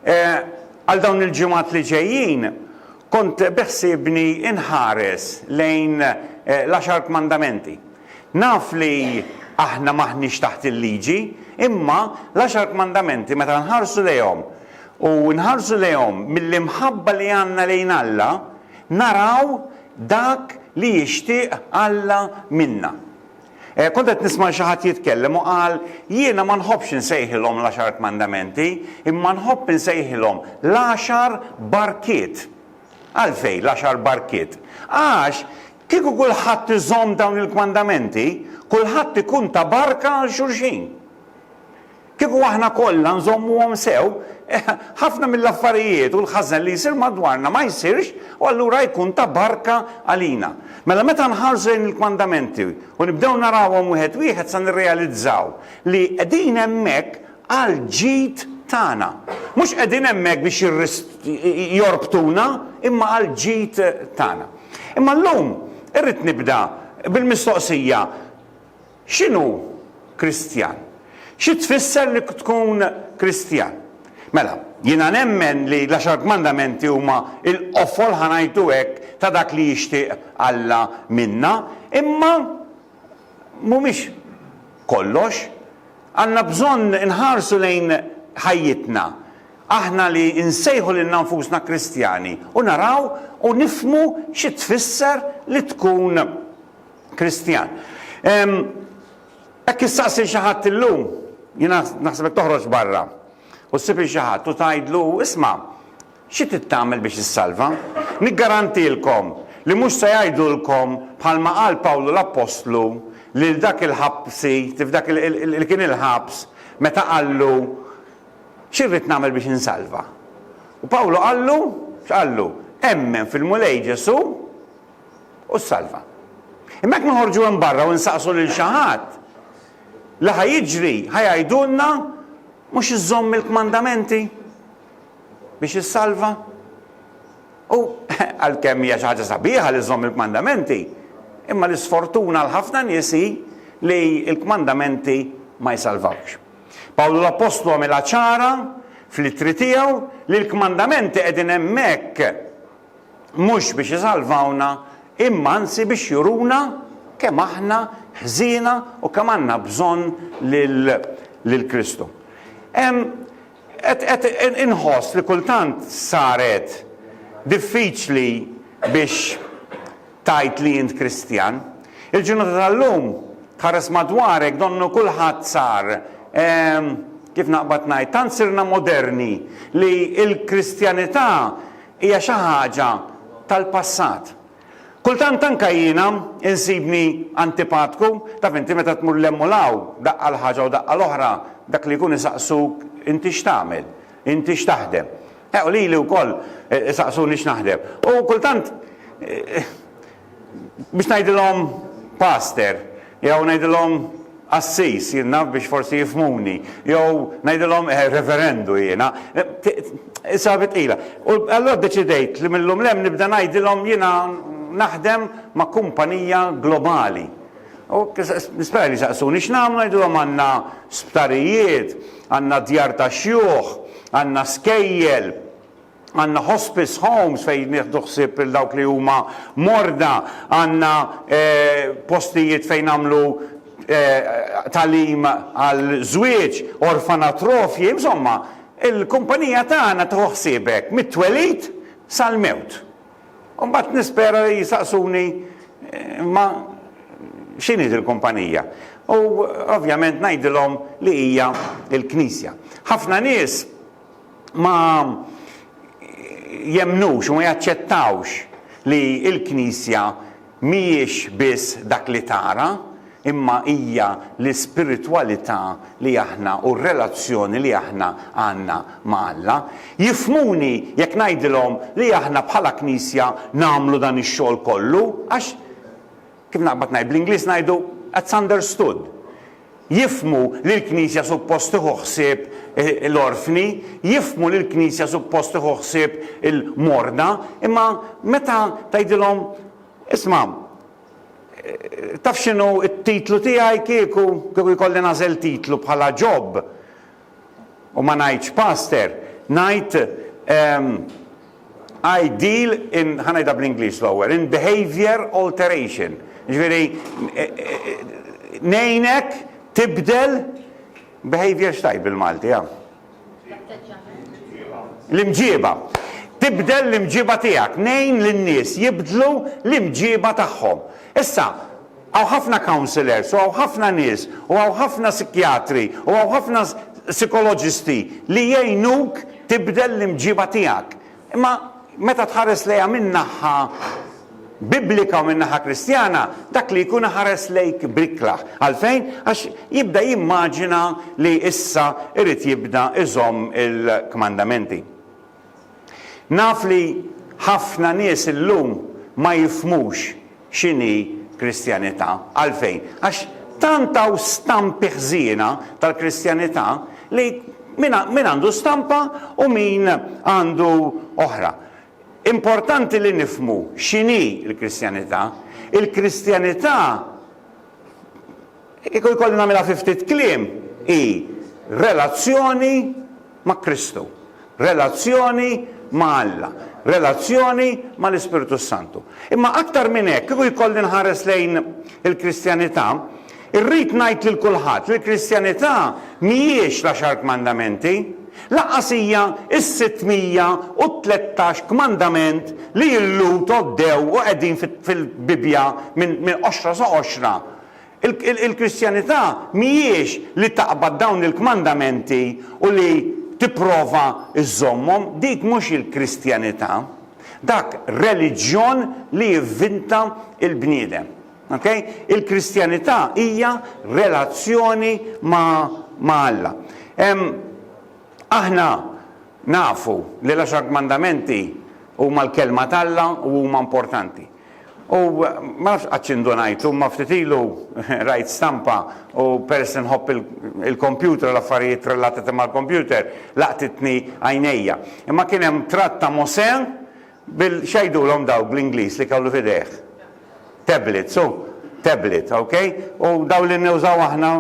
Għal dawn il-ġimgħat li ġejjin kont beħsiebni nħares lejn l-Għaxar Kmandamenti. Naf li aħna m'aħniex taħt il-Liġi, imma l-Għaxar Kmandamenti meta nħarsu lejhom u nħarsu lejhom mill-imħabba li għandna lejn Alla, naraw dak li jixtieq Alla minna. Kont qed nisma' lil xi ħadd jitkellem u qal, Jiena ma nħobbx insejħilhom l-Għaxar Kmandamenti, imma nħobb insejħilhom l-Għaxar Barkiet. Għalfejn l-Għaxar Barkiet? Għax, kieku kulħadd iżomm dawn il-kmandamenti, kulħadd ikun ta' barka għal xulxin. Kieku aħna kollha nżommuhom sew, ħafna mill-affarijiet u l-ħażen li jsir madwarna ma jsirx u allura jkun ta' barka għalina. Mela meta nħarsu lejn il-kmandamenti u nibdew narawhom wieħed wieħed se nirrealizzaw li qegħdin hemmhekk għall-ġid tagħna. Mhux qegħdin hemmhekk biex jorbtuna imma għall-ġid tagħna. Imma llum irrid nibda bil-mistoqsija, X'inhu Kristjan? Xi tfisser li tkun Kristjan? Mela, jiena nemmen li l-Għaxar Kmandamenti huma l-qofol, ħa ngħidu hekk, ta' dak li jixtieq Alla minna, imma mhumiex kollox. Għandna bżonn inħarsu lejn ħajjitna, aħna li nsejħu lilna nfusna Kristjani, u naraw u nifhmu xi tfisser li tkun Kristjan. Hekk issaqsi xi ħadd illum, jiena naħseb toħroġ barra u ssib xi ħadd u tgħidlu isma' xi trid tagħmel biex issalva? Niggarantilkom li mhux se jgħidulkom bħalma qal Pawlu l-Appostlu lil dak il-ħabsi, dak li kien il-ħabs, meta qallu xi rrid nagħmel biex insalva. U Pawlu qallu, x'qallu? Emmen fil-Mulej Ġesu' u ssalva. Imma jekk noħorġu hemm barra u nsaqsu lil xi ħadd, li ħa jiġri ħa jgħidulna mhux iżżomm il-kmandamenti biex issalva. U għalkemm hija xi ħaġa sabiħa li żżomm il-kmandamenti, imma l-isfortuna għal ħafna nies hi li l-kmandamenti ma jsalvawx. Pawlu l-Appostlu għamilha ċara fl-ittri tiegħu li l-kmandamenti qegħdin hemmhekk mhux biex isalvawna, imma anzi biex juruna kemm aħna ħżiena u kemm għandna bżonn lil Kristu. Qed inħoss li kultant saret diffiċli biex tgħid li int Kristjan. Il-ġurnata tal-lum tħares madwarek donnu kulħadd sar, kif naqbad ngħid, tant sirna moderni li l-Kristjanità hija xi ħaġa tal-passat. Kultant anke jiena insibni antipatku, taf inti meta tmur 'l hemm u 'l hawn, daqqa 'l ħaġa u daqqa 'l oħra, dak li jkun isaqsuk inti x'tagħmel, inti x'taħdem. Eh u lili wkoll isaqsuni x'naħdem. U kultant biex ngħidilhom paster, jew ngħidilhom qassis, jien naf biex forsi jifhmuni, jew ngħidilhom eh, reverendu jiena. Sabi tqila. U allura ddeċidejt li millum lem nibda ngħidilhom jiena naħdem ma' kumpanija globali. U nispera li saqsuni x'nagħmlu ngħidilhom għandna sptarijiet, għandna djar ta' xjuħ, għandna skejjel, Għandna hospice homes fejn nieħdu ħsieb lil dawk li huma morda, għandna postijiet fejn nagħmlu tagħlim għal żwieġ, orfanatrofji, insomma, il-kumpanija tagħna tieħu ħsieb hekk mit-twelid sal-mewt. U mbagħad nispera li jsaqsuni imma x'inhi dil-kumpanija? U ovvjament ngħidilhom li hija l-Knisja. Ħafna nies ma jemmnux u ma jaċċettawx li l-Knisja mhijiex biss dak li tara, imma hija l-ispiritwalità li aħna u r-relazzjoni li aħna għandna ma' Alla. Jifhmuni jekk ngħidilhom li aħna bħala Knisja nagħmlu dan ix-xogħol kollu, għax Kif naqbad ngħid, bl-Ingliż ngħidu, that's understood. Jifhmu li l-Knisja suppost tieħu ħsieb l-orfni, jifhmu li l-Knisja suppost tieħu ħsieb il-morda, imma meta tgħidilhom, isma', taf x'inhu t-titlu tiegħi kieku, kieku jkolli nagħżel titlu bħala Ġob, U ma ngħidx pastor, ngħid ehm, I deal in, ħa ngħidha bl-Ingliż l-ewwel, in behavior alteration. Ġifieri e, e, ngħinek tibdel behavior x'tajt bil-Malti, ja. L-imġiba. Tibdel l-imġiba tiegħek, ngħin lin-nies jibdlu l-imġiba tagħhom. Issa, Hawn ħafna counsellors u hawn ħafna nies u hawn ħafna sikjatri u hawn ħafna sikoloġisti li jgħinuk tibdel l-imġiba tiegħek. Imma meta tħares lejha minn naħa Biblika u minn naħa Kristjana, dak li jkun iħares lejk b'ikraħ. Għalfejn? Għax jibda jimmaġina li issa irid jibda iżomm il-kmandamenti. Naf li ħafna nies illum ma jifhmux x'inhi Kristjanità. Għalfejn? Għax tant hawn stampi ħżiena tal-Kristjanità li min min għandu stampa u min għandu oħra. Importanti li nifhmu x'inhi l-Kristjanità. Il-Kristjanità Kieku jkolli nagħmilha fi ftit kliem, hi relazzjoni ma' Kristu, relazzjoni ma' Alla, relazzjoni mal-Ispirtu s-Santu. Imma aktar minn hekk, kieku jkolli nħares lejn il-Kristjanità, irrid ngħid lil kulħadd li l-Kristjanità mhijiex l-Għaxar Kmandamenti, lanqas hija s-613 kmandament li illum tgħoddew u qegħdin fil-Bibbja minn qoxra sa qoxra Il-Kristjanità mhijiex li taqbad dawn il-kmandamenti u li tipprova żżommhom, dik mhux il-Kristjanità. Dak reliġjon li jivvinta l-bniedem. Okay? Il-Kristjanità hija relazzjoni ma' ma' Alla. Em, aħna nafu li l-għaxar kmandamenti huma l-kelma t'Alla u huma importanti. U ma nafx qattx indunajtu, imma ftit ilu rajt stampa u peress li nħobb il-kompjuter u l-affarijiet relatati mal-kompjuter, laqtitni għajnejja. Imma kien hemm tratt ta' Mosè bil x'għidulhom dawk bl-Ingliż li kellu f'idejh? Tablet, sew, tablet, okay? U dawn li nużaw aħna,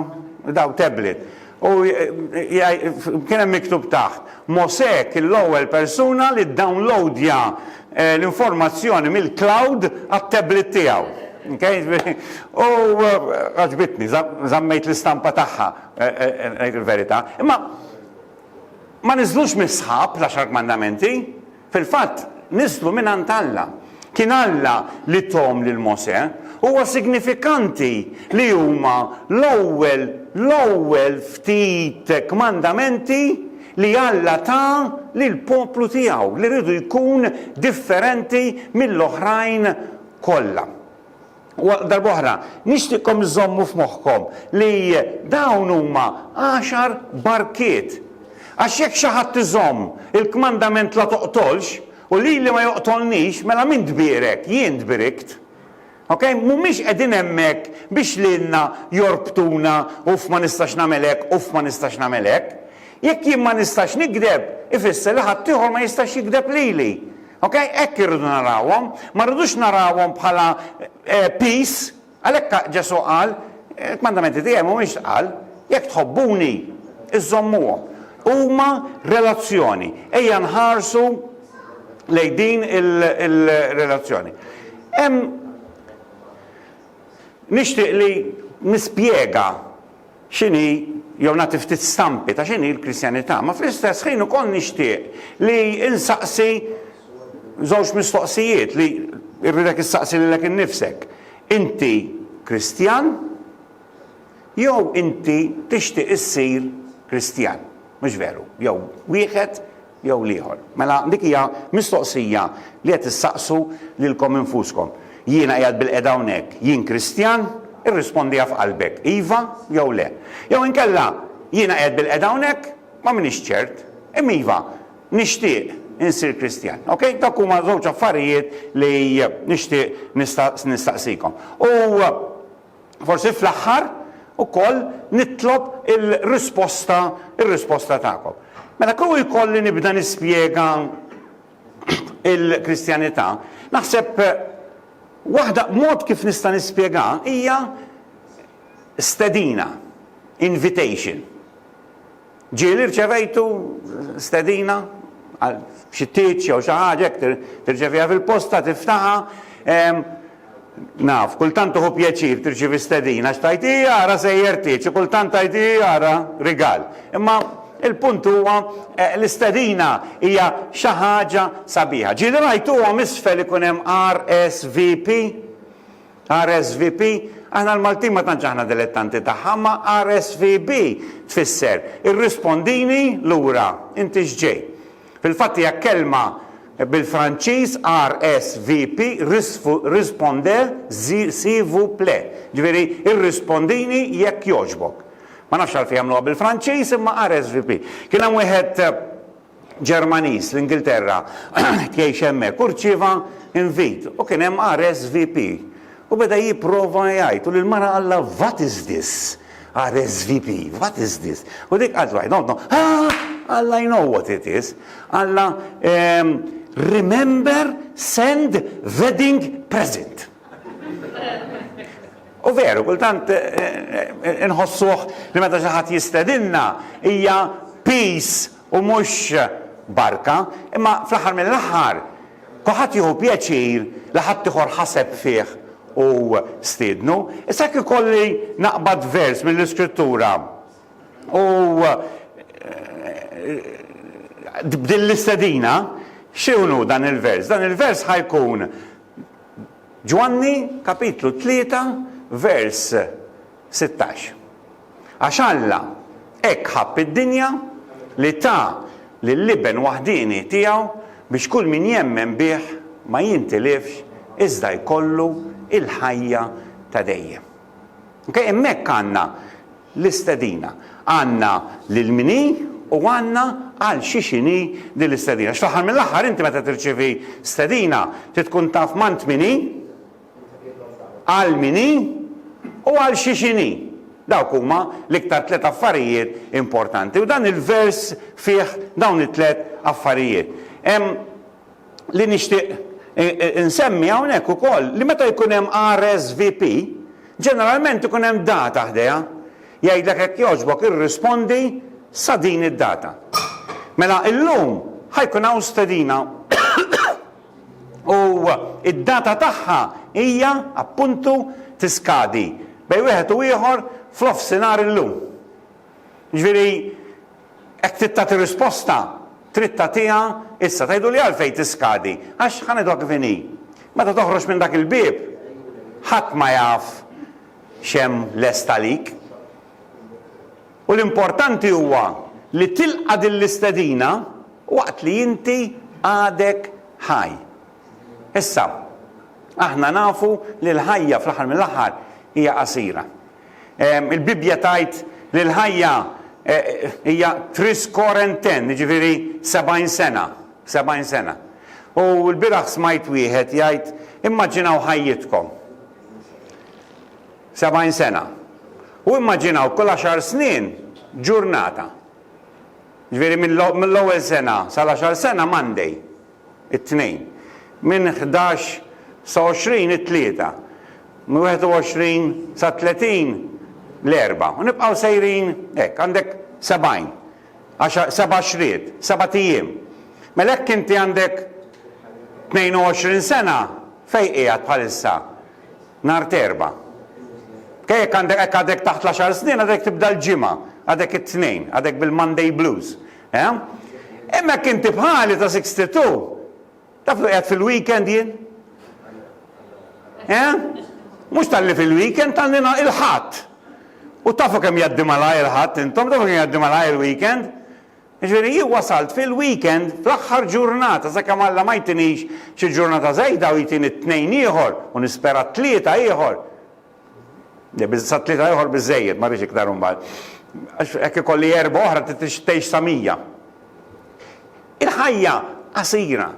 daw tablet. U kien hemm miktub taħt, Mosè kien l-ewwel persuna li ddownlowdja l-informazzjoni mill-cloud għat-tablet tiegħu. U għaġbitni, żammejt l-istampa tagħha, ngħid il-verità. Imma ma niżlux mis-sħab l-Għaxar Kmandamenti. Fil-fatt, niżlu mingħand Alla. Kien Alla li thom lil Mosè. Huwa signifikanti li huma l-ewwel l-ewwel ftit kmandamenti li Alla ta lill-poplu tiegħu li riedu jkun differenti mill-oħrajn kollha. U għal darb'oħra, nixtieqkom iżżommu f'moħħkom li dawn huma għaxar barkiet. Għax jekk xi ħadd iżomm il-kmandament 'la toqtolx' u lili ma joqtolnix, mela min tbierek? Jien tbirikt. Okej? Mhumiex qegħdin hemmhekk biex lilna jorbtuna, uff ma nistax nagħmel hekk, uff ma nistax nagħmel hekk. Jekk jien ma nistax nigdeb, ifisser li ħaddieħor ma jistax jigdeb lili. Ok, hekk irridu narawhom, ma rridux narawhom bħala eh, peace, għalhekk Ġesu qal, eh, kmandamenti tiegħi mhumiex qal, jekk tħobbuni, iżommuhom. Huma relazzjoni, ejja nħarsu lej din il-relazzjoni. Hemm nixtieq li nispjega x'inhi jew nagħti ftit stampi ta' x'inhi l-Kristjanità, ma fl-istess ħin ukoll nixtieq li insaqsi żewġ mistoqsijiet li rridek issaqsi lilek innifsek. Inti Kristjan jew inti tixtieq issir Kristjan? Mhux veru? Jew wieħed jew l-ieħor. Mela dik hija mistoqsija li qed issaqsu lilkom infuskom. Jiena qiegħed bilqiegħda hawnhekk, jien Kristjan? Irrispondiha f'qalbek, iva jew le. Jew inkella, jiena qiegħed bilqiegħda hawnhekk, ma m'iniex ċert, imma iva, nixtieq insir Kristjan. Ok? Dawk huma żewġ affarijiet li nixtieq nistaqsikom. U Forsi fl-aħħar ukoll nitlob il-risposta ir-risposta tagħkom. Mela kieku jkolli nibda nispjega il-Kristjanità, naħseb waħda mod kif nista' nispjega hija stedina, invitation. Ġieli rċevejtu stedina għal xi tieġ jew xi ħaġa hekk tirċeviha fil-posta, tiftaħha. Naf, kultant tuħu pjaċir tirċievi stedina għax tgħid hi ara sejjer tieġ u kultant tgħid hi ara rigal. Imma il-punt huwa l-istedina hija xi ħaġa sabiħa. Ġieli rajtuhom isfel ikun hemm RSVP? RSVP, Aħna l-Maltin ma tantx aħna dilettanti tagħha, imma RSVB tfisser irrispondini lura, inti x'ġej. Fil-fatt hija kelma bil-Franċiż RSVP, risponder, s'il vous plaît, ġifieri irrispondini jekk jogħġbok. Ma nafx għalfejn għamluha bil-Franċiż imma RSVP. Kien hemm wieħed Ġermaniż l-Ingilterra tgħix hemmhekk u rċieva invit u kien hemm RSVP u beda jipprova jgħid u l-mara qalla what is this? RSVP, what is this? U dik qatt waħda, no, no, Alla I know what it is. Alla ehm, remember send wedding present. U veru, kultant eh, eh, eh, nħossuħ li meta xi ħadd jistedinna hija peace u mhux barka, imma fl-aħħar mill-aħħar kulħadd jieħu pjaċir li ħaddieħor ħaseb fih u stiednu. Issa jekk ikolli naqbad vers mill-Iskrittura u b'din l-istedina, xi hu dan il-vers? Dan il-vers ħa jkun Ġwanni, kapitlu tlieta, vers sittax. Għax Alla hekk ħabb id-dinja li ta lill-Iben waħdieni tiegħu biex kull min jemmen bih ma jintilifx iżda jkollu l-ħajja ta' dejjem. Okej, hemmhekk għandna l-istedina. Għandna lil min hi u għandna għal xiex inhi din l-istedina. Għax fl-aħħar mill-aħħar inti meta tirċievi stedina trid tkun taf m'għand min hi. għal min hi u għal xiex inhi. Dawk huma l-iktar tliet affarijiet importanti u dan il-vers fih dawn it-tliet affarijiet. Hemm li nixtieq insemmi hawnhekk ukoll li meta jkun hemm RSVP, ġeneralment ikun hemm data ħdejha. Jgħidlek hekk jogħġbok irrispondi sa din id-data. Mela illum ħajkun hawn stedina u d-data tagħha hija, appuntu, tiskadi bejn wieħed u ieħor f'nofsinhar illum. Jiġifieri hekk trid tagħti risposta, trid tagħtiha issa. Tgħiduli għalfejn tiskadi? Għax ħa ngħiduha kif inhi. Meta toħroġ minn dak il-bieb, ħadd ma jaf x'hemm lest għalik. U l-importanti huwa li tilqa' din l-istedina waqt li inti għadek ħaj. Issa, aħna nafu li l-ħajja fl-aħħar mill-aħħar hija qasira. Il-Bibbja tgħid li l-ħajja hija tris quarantaine, jiġifieri sebgħin sena, sebgħin sena. U lbieraħ smajt wieħed jgħid, Immaġinaw ħajjitkom. 70 sena. U immaġinaw kull għaxar snin ġurnata. Ġifieri mill-ewwel sena sal-għaxar sena Monday, it-Tnejn. Minn ħdax sa 20 it-Tlieta. Minn 21 sa 30 l-Erbgħa. U nibqgħu sejrin hekk. Għandek 70. Għaxar, seba' għaxriet, sebat ijiem. Mela jekk inti għandek 22 sena, fejn qiegħed bħalissa? nhar t'Erbgħa. Ke jekk għandek hekk għadek taħt l-għaxar snin għadek tibda l-Ġimgħa, għadek it-Tnejn, għadek bil-Monday blues. Eh? Imma hekk inti bħali ta' 62, taf li qiegħed fil-weekend jien? Eh? Mhux tal-li fil-weekend tal-li il-ħadd. U tafu kemm jgħaddi malaj il-ħadd intom, tafu kemm jgħaddi malaj il-weekend. Jiġifieri jien wasalt fil-weekend fl-aħħar ġurnata sakemm Alla ma jtinix xi ġurnata żejda u jtini t-Tnejn ieħor u nispera t-Tlieta ieħor. Le biż sat-Tlieta ieħor biżżejjed ma rridx iktar imbagħad. Għax hekk ikolli Erbgħa oħra trid tgħix sa mija. Il-ħajja qasira.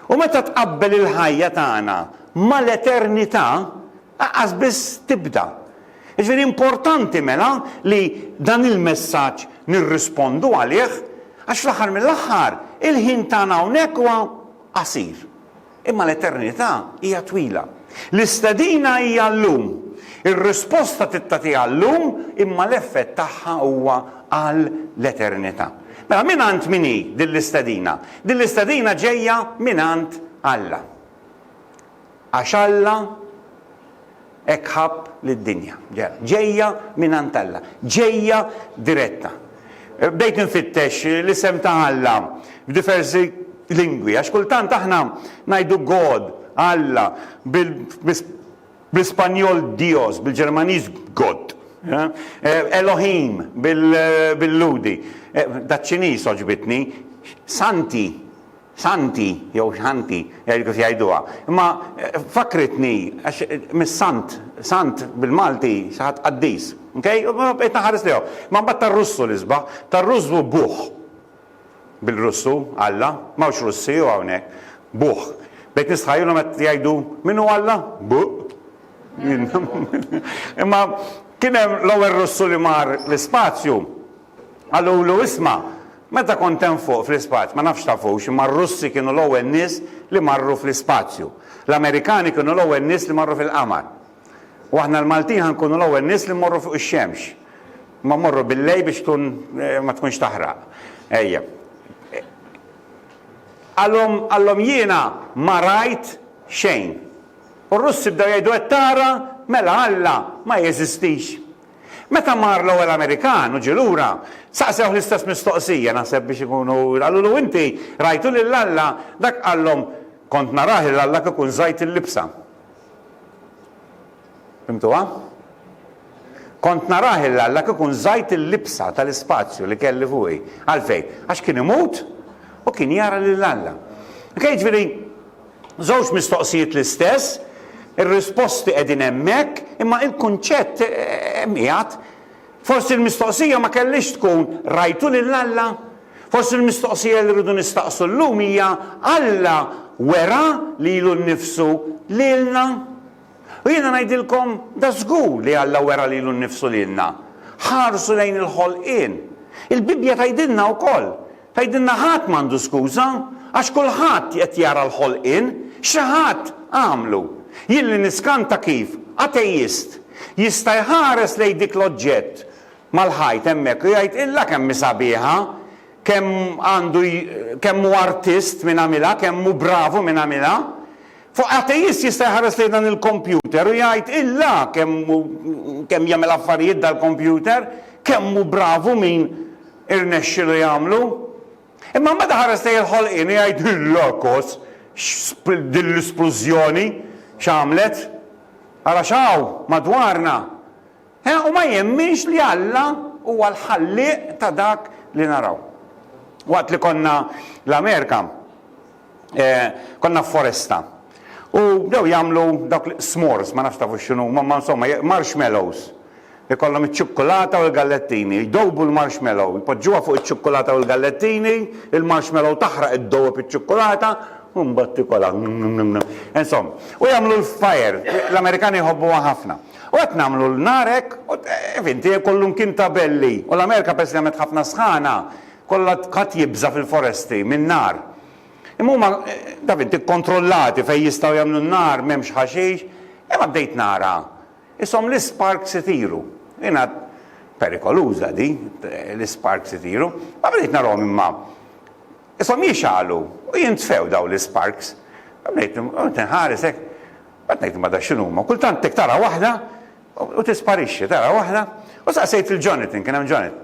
U meta tqabbel il-ħajja tagħna mal-eternità Laqqas biss tibda. Jiġifieri importanti mela li dan il-messaġġ nirrispondu għalih għax fl-aħħar mill-aħħar il-ħin tagħna hawnhekk huwa qasir. Imma l-eternità hija twila. L-istedina hija llum. Ir-risposta tittatiha llum imma l-effett tagħha huwa għal l-eternità. Mela mingħand min hi din l-istedina? Din l-istedina ġejja mingħand Alla. Għax Alla hekk ħabb lid-dinja. Ġejja mingħand Alla. Ġejja diretta. Bdejt infittex l-isem ta' Alla f'diversi lingwi, għax kultant aħna ngħidu God, Alla, bl-Ispanjol Dios, bil-Ġermaniż Gott, Elohim bil-Lhudi, daċ-Ċiniż għoġbitni, Santi. Santi, jew Xanti, jgħidu kif jgħiduha. Imma fakkritni, għax mis-Sant, Sant bil-Malti, xi ħadd qaddis. Ok? U bqejt naħares lejhom. Imma mbagħad tar-Russu li sbaħt. Tar-Russ hu Buh. Bil-Russu, Alla. M'hawnx Russi hu hawnhekk. Buh. Bdejt nistħajjilhom qed jgħidu, Min hu Alla? Buh. Imma kien hemm l-ewwel Russu li mar l-ispazju. Qalulu, Isma', meta kont hemm fuq fl-ispazj, ma nafx tafux, imma r-Russi kienu l-ewwel nies li marru fl-ispazju. L-Amerikani kienu l-ewwel nies li marru fil-qamar. U aħna l-Maltin ħa nkunu l-ewwel nies li mmorru fuq ix-xemx. Imma mmorru bil-lejl biex tkun ma tkunx taħraq. Ejja. Qalhom, qalhom jiena ma rajt xejn. U r-Russi bdew jgħidu qed tara, mela Alla ma jeżistix. Meta mar l-ewwel Amerikan u ġie lura, saqsewh l-istess mistoqsija, naħseb biex ikunu, qalulu, Inti rajtu lil Alla? Dak qallhom, Kont narah lil Alla kieku nżajt il-libsa. Fhimtuha? Kont narah lil Alla kieku nżajt il-libsa tal-ispazju li kelli fuqi. Għalfejn? Għax kien imut u kien jara lil Alla. Ok, jiġifieri, Żewġ mistoqsijiet l-istess, ir-risposti qegħdin hemmhekk, imma il-kunċett hemm qiegħed. Forsi l-mistoqsija ma kellhiex tkun rajtu lil Alla? Forsi l-mistoqsija li rridu nistaqsu llum hija Alla wera lilu nnifsu lilna? U jiena ngħidilkom, dażgur li Alla wera lilu nnifsu lilna. Ħarsu lejn il-ħolqien. Il-Bibbja tgħidilna wkoll, tgħidilna ħadd m'għandu skuża, għax kulħadd qed jara l-ħolqien, xi ħadd għamlu. Jien li niskanta kif ateist jista' jħares lejn dik l-oġġett mal-ħajt hemmhekk u jgħid illa kemm hi sabiħa, kemm għandu kemm hu artist min għamilha, kemm hu bravu min għamilha. Fuq ateist jista' jħares lejn dan il-kompjuter u jgħid, Illa kemm hu kemm jagħmel affarijiet dal-kompjuter, kemm hu bravu min irnexxilu jagħmlu. Imma meta ħares lejn il-ħolqien u jgħid, Illa kos, x'spl din l-isplużjoni x'għamlet? Ara x'hawn madwarna! He, u ma jemminx li Alla huwa l-ħallieq ta' dak li naraw. Waqt li konna l-Amerika, konna f'foresta. U bdew jagħmlu dawk l-s'mores, ma nafx tafu x'inhu, ma insomma, marshmallows. Ikollhom iċ-ċukkulata u l-gallettini. Jdobu l-marshmallow, jpoġġuha fuq iċ-ċukkulata u l-gallettini, il-marshmallow taħraq id-dowb iċ-ċukkulata, u mbagħad tikolha. Insomm, u jagħmlu l-fire, l-Amerikani jħobbuha ħafna. U qed nagħmlu l-nar hekk, u finti kollu mkien ta' belli. U l-Amerika peress li għamlet ħafna sħana, Kollha ħadd jibża' fil-foresti min-nar. Imma huma, taf int, ikkontrollati fejn jistgħu jagħmlu n-nar, m'hemmx ħaxix. Imma bdejt nara ishom l-isparks itiru. Jiena perikoluża di, l-isparks itiru. Ma bdejt narahom imma ishom jixgħalu u jintfew dawn l-isparks. Bdejt inħares hekk, bad ngħid imma da x'inhuma. Kultant hekk tara waħda u tisparixxi, tara waħda. U saqsejt lil Jonathan, kien hemm Jonathan.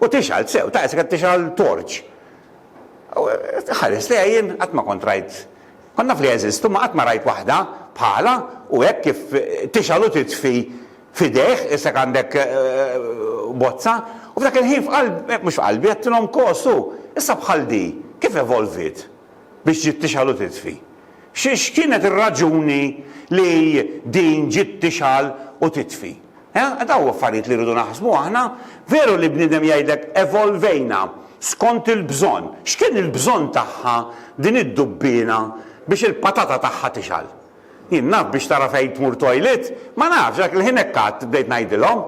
U tixgħal, sew, ta' isek qed tixgħal torċ. U ħares lejha jien qatt ma kont rajt, kont naf li jeżistu ma qatt ma rajt waħda bħalha u hekk kif tixgħal u titfi f'idejh, isek għandek bozza. U f'dak il-ħin f'qalbi, mhux f'qalbi, għedtilhom kos u, issa bħal di, kif evolviet biex ġiet tixgħal u titfi? X'kienet ir-raġuni li din ġiet tixgħal u titfi? Dawn huma affarijiet li rridu naħsbu aħna. Veru li bniedem jgħidlek evolvejna skont il-bżonn. X'kien il-bżonn tagħha din id-dubbiena biex il-patata tagħha tixgħal? Jien naf biex tara fejn tmur toilet? Ma nafx, dak il-ħin hekk għadt bdejt ngħidilhom.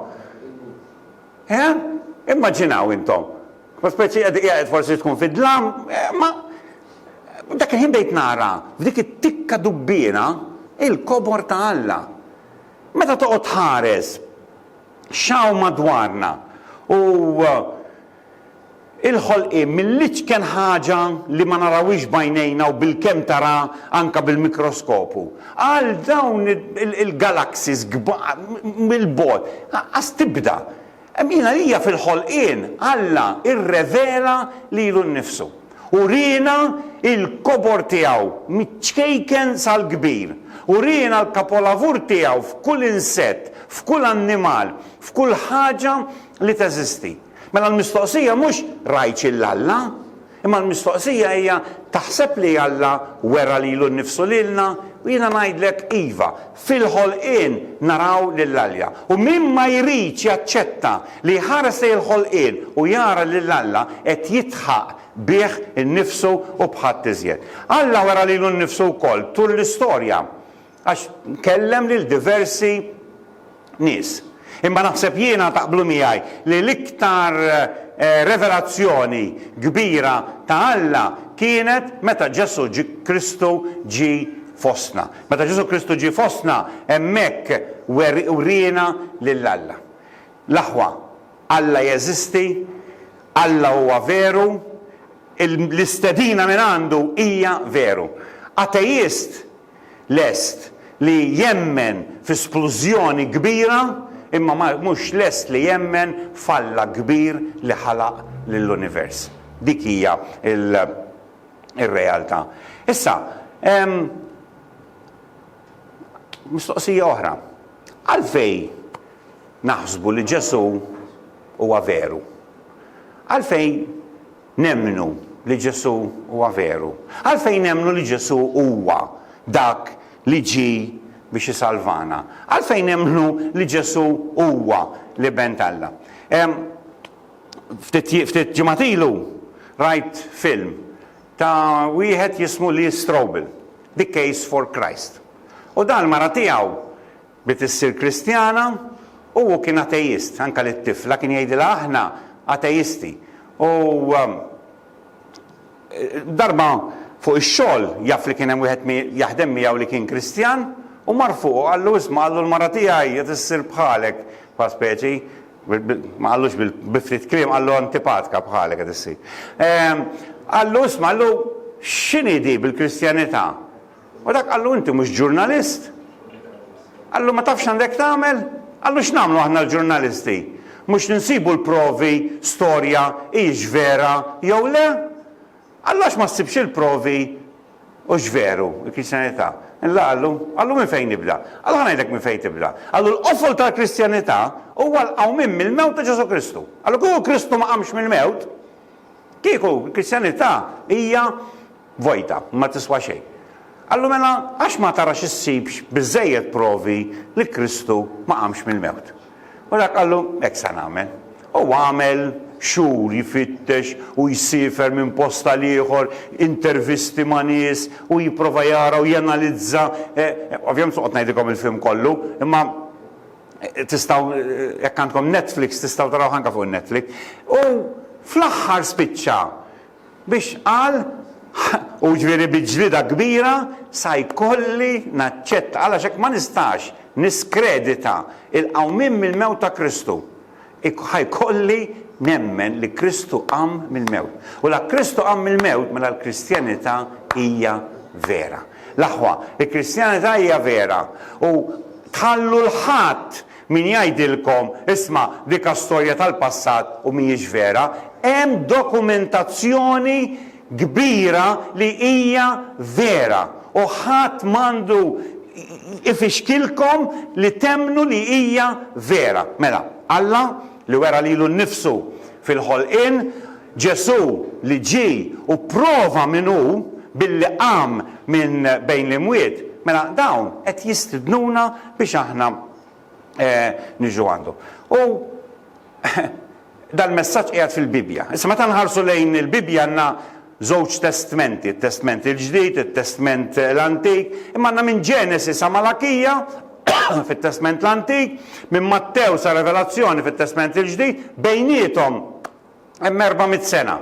Immaġinaw intom, Ma speċi qed qiegħed forsi tkun fid-dlam, imma dak il-ħin bdejt nara f'dik it-tikka dubbiena il-kobor ta' Alla. Meta toqgħod tħares x'hawn madwarna u l-ħolqien mill-iċken ħaġa li ma narawhiex b'għajnejna u bilkemm tara anke bil-mikroskopu, għal dawn il-galaxies kbar mill-bogħod, lanqas tibda. Min għalija fil-ħolqien Alla rrevela lilu nnifsu. Uriena l-kobor tiegħu miċ-ċkejken sal-kbir. Uriena l-kapolavur tiegħu f'kull insett, f'kull annimal, f'kull ħaġa li teżisti. Mela l-mistoqsija mhux rajtx 'l Alla? Imma l-mistoqsija hija, taħseb li Alla wera lilu nnifsu lilna? U jiena ngħidlek, iva, fil-ħolqien naraw lil Alja. U min ma jridx jaċċetta li jħares lejn il-ħolqien u jara lil Alla qed jidħaq bih innifsu u b'ħadd iżjed. Alla wera lilu nnifsu wkoll tul l-istorja. Għax kellem lil diversi nies. Imma naħseb jiena taqblu miegħi li l-iktar revelazzjoni kbira ta' Alla kienet meta Ġesù Kristu ġie fostna. Meta Ġesù Kristu ġie fostna hemmhekk wriena lil Alla. L-aħwa, Alla jeżisti, Alla huwa veru, l-istedina mingħandu hija veru. Ateist lest li jemmen fi splużjoni kbira imma ma mhux lest li jemmen f'Alla kbir li ħalaq lill-univers. Dik hija l, ir-realtà. Issa, hemm mistoqsija oħra. Għalfejn naħsbu li Ġesù huwa veru? Għalfejn Nemmnu li Ġesù huwa veru. Għalfejn nemmnu li Ġesù huwa dak li ġie biex isalvana? Għalfejn nemmnu li Ġesù huwa l-Iben t'Alla? Ftit ġimgħat ilu rajt film ta' wieħed jismu Lee Strobel, The Case for Christ. U dan l-mara tiegħu Bdiet issir Kristjana u hu kien ateist. Anke lit-tifla kien jgħidilha aħna atejisti. U darba fuq ix-xogħol jaf li kien hemm wieħed jaħdem miegħu li kien Kristjan u mar fuq u qallu isma' qallu l-mara tiegħi qed issir bħalek bħal speċi ma qallux bi ftit kliem qallu antipatka bħalek qed issir. Qallu isma' qallu x'inhi di bil-Kristjanità? U dak qallu inti mhux ġurnalist. Qallu ma tafx għandek tagħmel? Qallu x'nagħmlu aħna l-ġurnalisti? Mhux ninsibu l-provi, storja, hijiex vera jew le? Qallu għax ma ssibx il-provi u x'veru, il-Kristjanità. Illa qallu, qallu minn fejn nibda? Qallu ħa ngħidlek minn fejn tibda. Qallu l-qofol tal-Kristjanità huwa l-qawmien mill-mewt ta' Ġesu Kristu. Qallu kieku Kristu ma qamx mill-mewt, kieku l-Kristjanità hija Vojta, ma tiswa xejn. Qallu, Mela, għax ma tarax issibx biżżejjed provi li Kristu ma qamx mill-mewt? U dak qallu, Hekk sa nagħmel. U għamel xhur jfittex u jsiefer minn post għal ieħor, intervisti ma' nies u jipprova jara u janalizza. Ovvjament mhux se noqgħod ngħidilkom il-film kollu, imma tistgħu, jekk għandkom Netflix, tistgħu tarawh anke fuq in-Netflix. U fl-aħħar spiċċa Biex qal, u jiġifieri bi ġlieda kbira, sa jkolli naċċetta, għalax hekk ma nistax niskredita l-qawmien mill-mewt ta' Kristu. Ħa jkolli nemmen li Kristu qam mill-mewt. U la Kristu qam mill-mewt mela l-Kristjanità hija vera. L-aħwa, il-Kristjanità hija vera u tħallu l-ħadd Min jgħidilkom, isma', dik ha storja tal-passat u mhijiex vera, hemm dokumentazzjoni kbira li hija vera u ħadd m'għandu ifixkilkom li temmnu li hija vera. Mela, Alla? li wera lilu nnifsu fil-ħolqien, Ġesù li ġie u pprova min hu billi qam minn bejn l-imwiet, mela dawn qed jistidnuna biex aħna niġu għandu. U dal-messaġġ qiegħed fil-Bibbja. Issa meta nħarsu lejn il-Bibbja għandna Żewġ testmenti, it-Testment il-Ġdid, it-Testment l-Antik, imma għandna minn Ġenesi sa Malakija fit-Testment l-Antik, minn Mattew sa Revelazzjoni fit-Testment il-Ġdid, bejniethom hemm erba' mitt sena.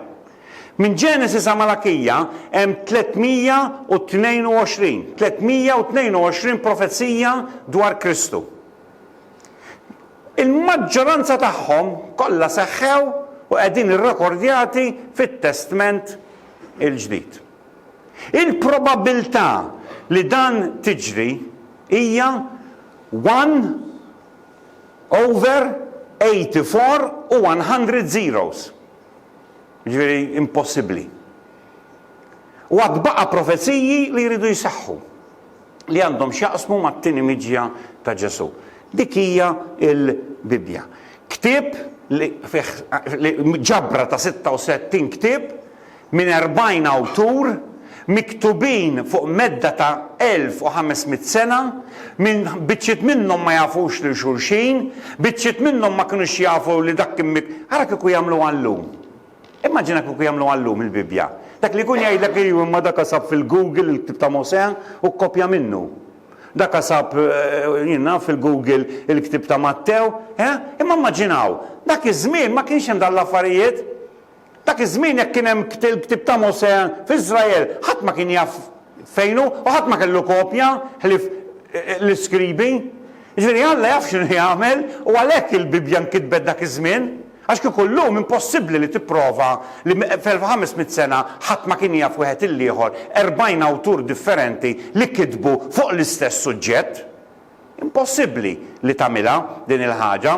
Minn Ġenesi sa Malakija hemm 322, 322 profezija dwar Kristu. Il-maġġoranza tagħhom kollha seħħew u qegħdin irrekordjati fit-Testment il-Ġdid. Il-probabbiltà li dan tiġri hija one over eighty four u one hundred zeros, jiġifieri impossibbli. U għad baqa' profeziji li jridu jseħħu. li għandhom x'jaqsmu mat-tieni miġja ta' Ġesù. Dik hija l-Bibbja. Ktieb li fih ġabra ta' 66 ktieb minn 40 awtur miktubin fuq medda ta' 1500 sena, minn biċċiet minnhom ma jafux lil xulxin, biċċiet minnhom ma kinux jafu li dak kien ara kieku jagħmluha llum. Immaġina kieku jagħmluha llum il-Bibbja. Dak li jkun jgħidlek iju imma daka sab fil-Google il-ktieb ta' Mosè u kkopja minnu. Daka sab jien naf fil-Google il-ktieb ta' Mattew, eh? Imma mmaġinaw, dak iż-żmien ma kienx hemm dawn l-affarijiet. Dak iż-żmien jekk kien hemm il-ktieb ta' Mosè f'Iżrael, ħadd ma kien jaf fejn hu u ħadd ma kellu kopja ħlief l-iskribi. Jiġifieri Alla jaf x'inhu jagħmel u għalhekk il-Bibbja nkitbet dak iż-żmien. Għax kieku llum impossibbli li tipprova li f'ħames mitt sena ħadd ma kien jaf wieħed il-ieħor erbgħin awtur differenti li kitbu fuq l-istess suġġett. Impossibbli li tagħmilha din il-ħaġa.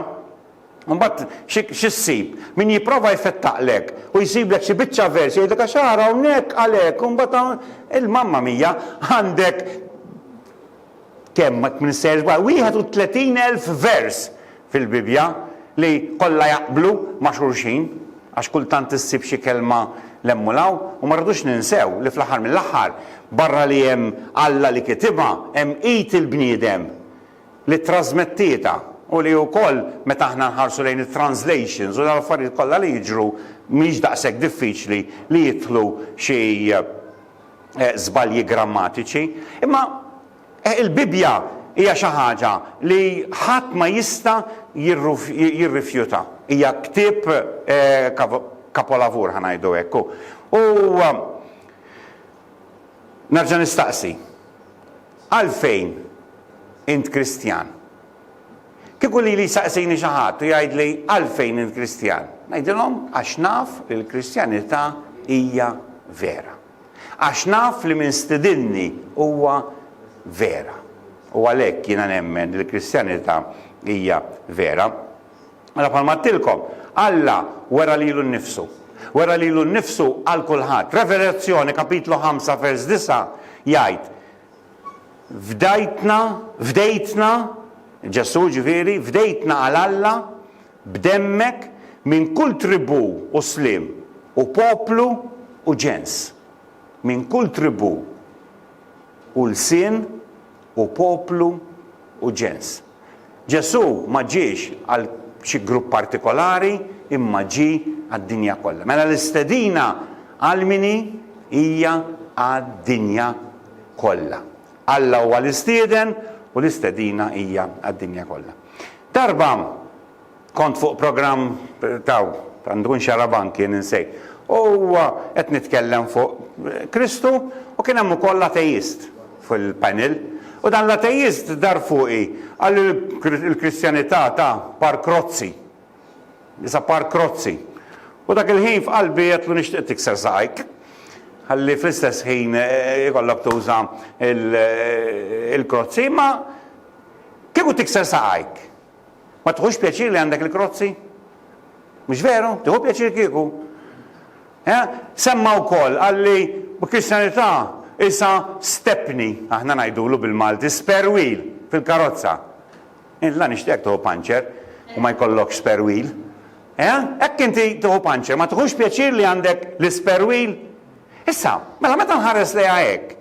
Imbagħad xi xi ssib? Min jipprova jfettaqlek u jsiblek xi biċċa vers jgħidlek għax ara hawnhekk għalhekk u mbagħad hawn il-mamma mija għandek Kemm ma tminsehx b'għal 31 elf vers fil-Bibbja li kollha jaqblu ma' xulxin, għax kultant issib xi kelma 'l hemm u 'l hawn, u ma rridux ninsew li fl-aħħar mill-aħħar, barra li hemm Alla li kitibha, hemm id il-bniedem li ttrażmettietha u li wkoll meta aħna nħarsu lejn it-translations u l-affarijiet kollha li jiġru mhix daqshekk diffiċli li jidħlu xi żbalji grammatiċi, imma il-Bibbja hija xi ħaġa li ħadd ma jista' jirrifjuta. Hija ktieb kapolavur ħa ngħidu hekk. U nerġa' nistaqsi, għalfejn int Kristjan? Kieku lili jsaqsini xi ħadd u jgħidli għalfejn int Kristjan, ngħidilhom għax naf li l-Kristjanità hija vera. Għax naf li min stidinni huwa vera. U għalhekk jiena nemmen li l-Kristjanità hija vera. Mela bħalma għattilkom, Alla wera lilu nnifsu. Wera lilu nnifsu għal kulħadd. Revelazzjoni kapitlu 5 vers 9 jgħid Fdajtna, fdejtna, Ġesù ġifieri, fdejtna għal Alla b'demmek minn kull tribù u sliem u poplu u ġens. Minn kull tribù u lsien u poplu u ġens. Ġesù ma ġiex għal xi grupp partikolari imma ġie għad-dinja kollha. Mela l-istedina għal min hi? Hija għad-dinja kollha. Alla huwa l-istieden u l-istedina hija għad-dinja kollha. Darba Kont fuq programm taw għandu in Xarabank jien insejt. U huwa qed nitkellem fuq Kristu u kien hemm ukoll ateist fil-panel. U dan l-ateist dar fuqi qal li l-Kristjanità ta' par krozzi. It's a par krozzi. U dak il-ħin f'qalbi għedtlu nixtieq tikser saqajk. Ħalli fl-istess ħin ikollok tuża il-krozzi, imma kieku tikser saqajk. Ma tiħux pjaċir li għandek il-krozzi? Mhux veru? Tieħu pjaċir kieku? Eh? Semma wkoll qal li l-Kristjanità isa stepni, aħna ngħidulu bil-Malti, spare wheel fil-karozza. Int la nixtieq tieħu panċer u ma jkollokx spare wheel. Eh? Hekk inti tieħu panċer, ma tiħux pjaċir li għandek l-spare wheel? Issa, mela meta nħares lejha hekk,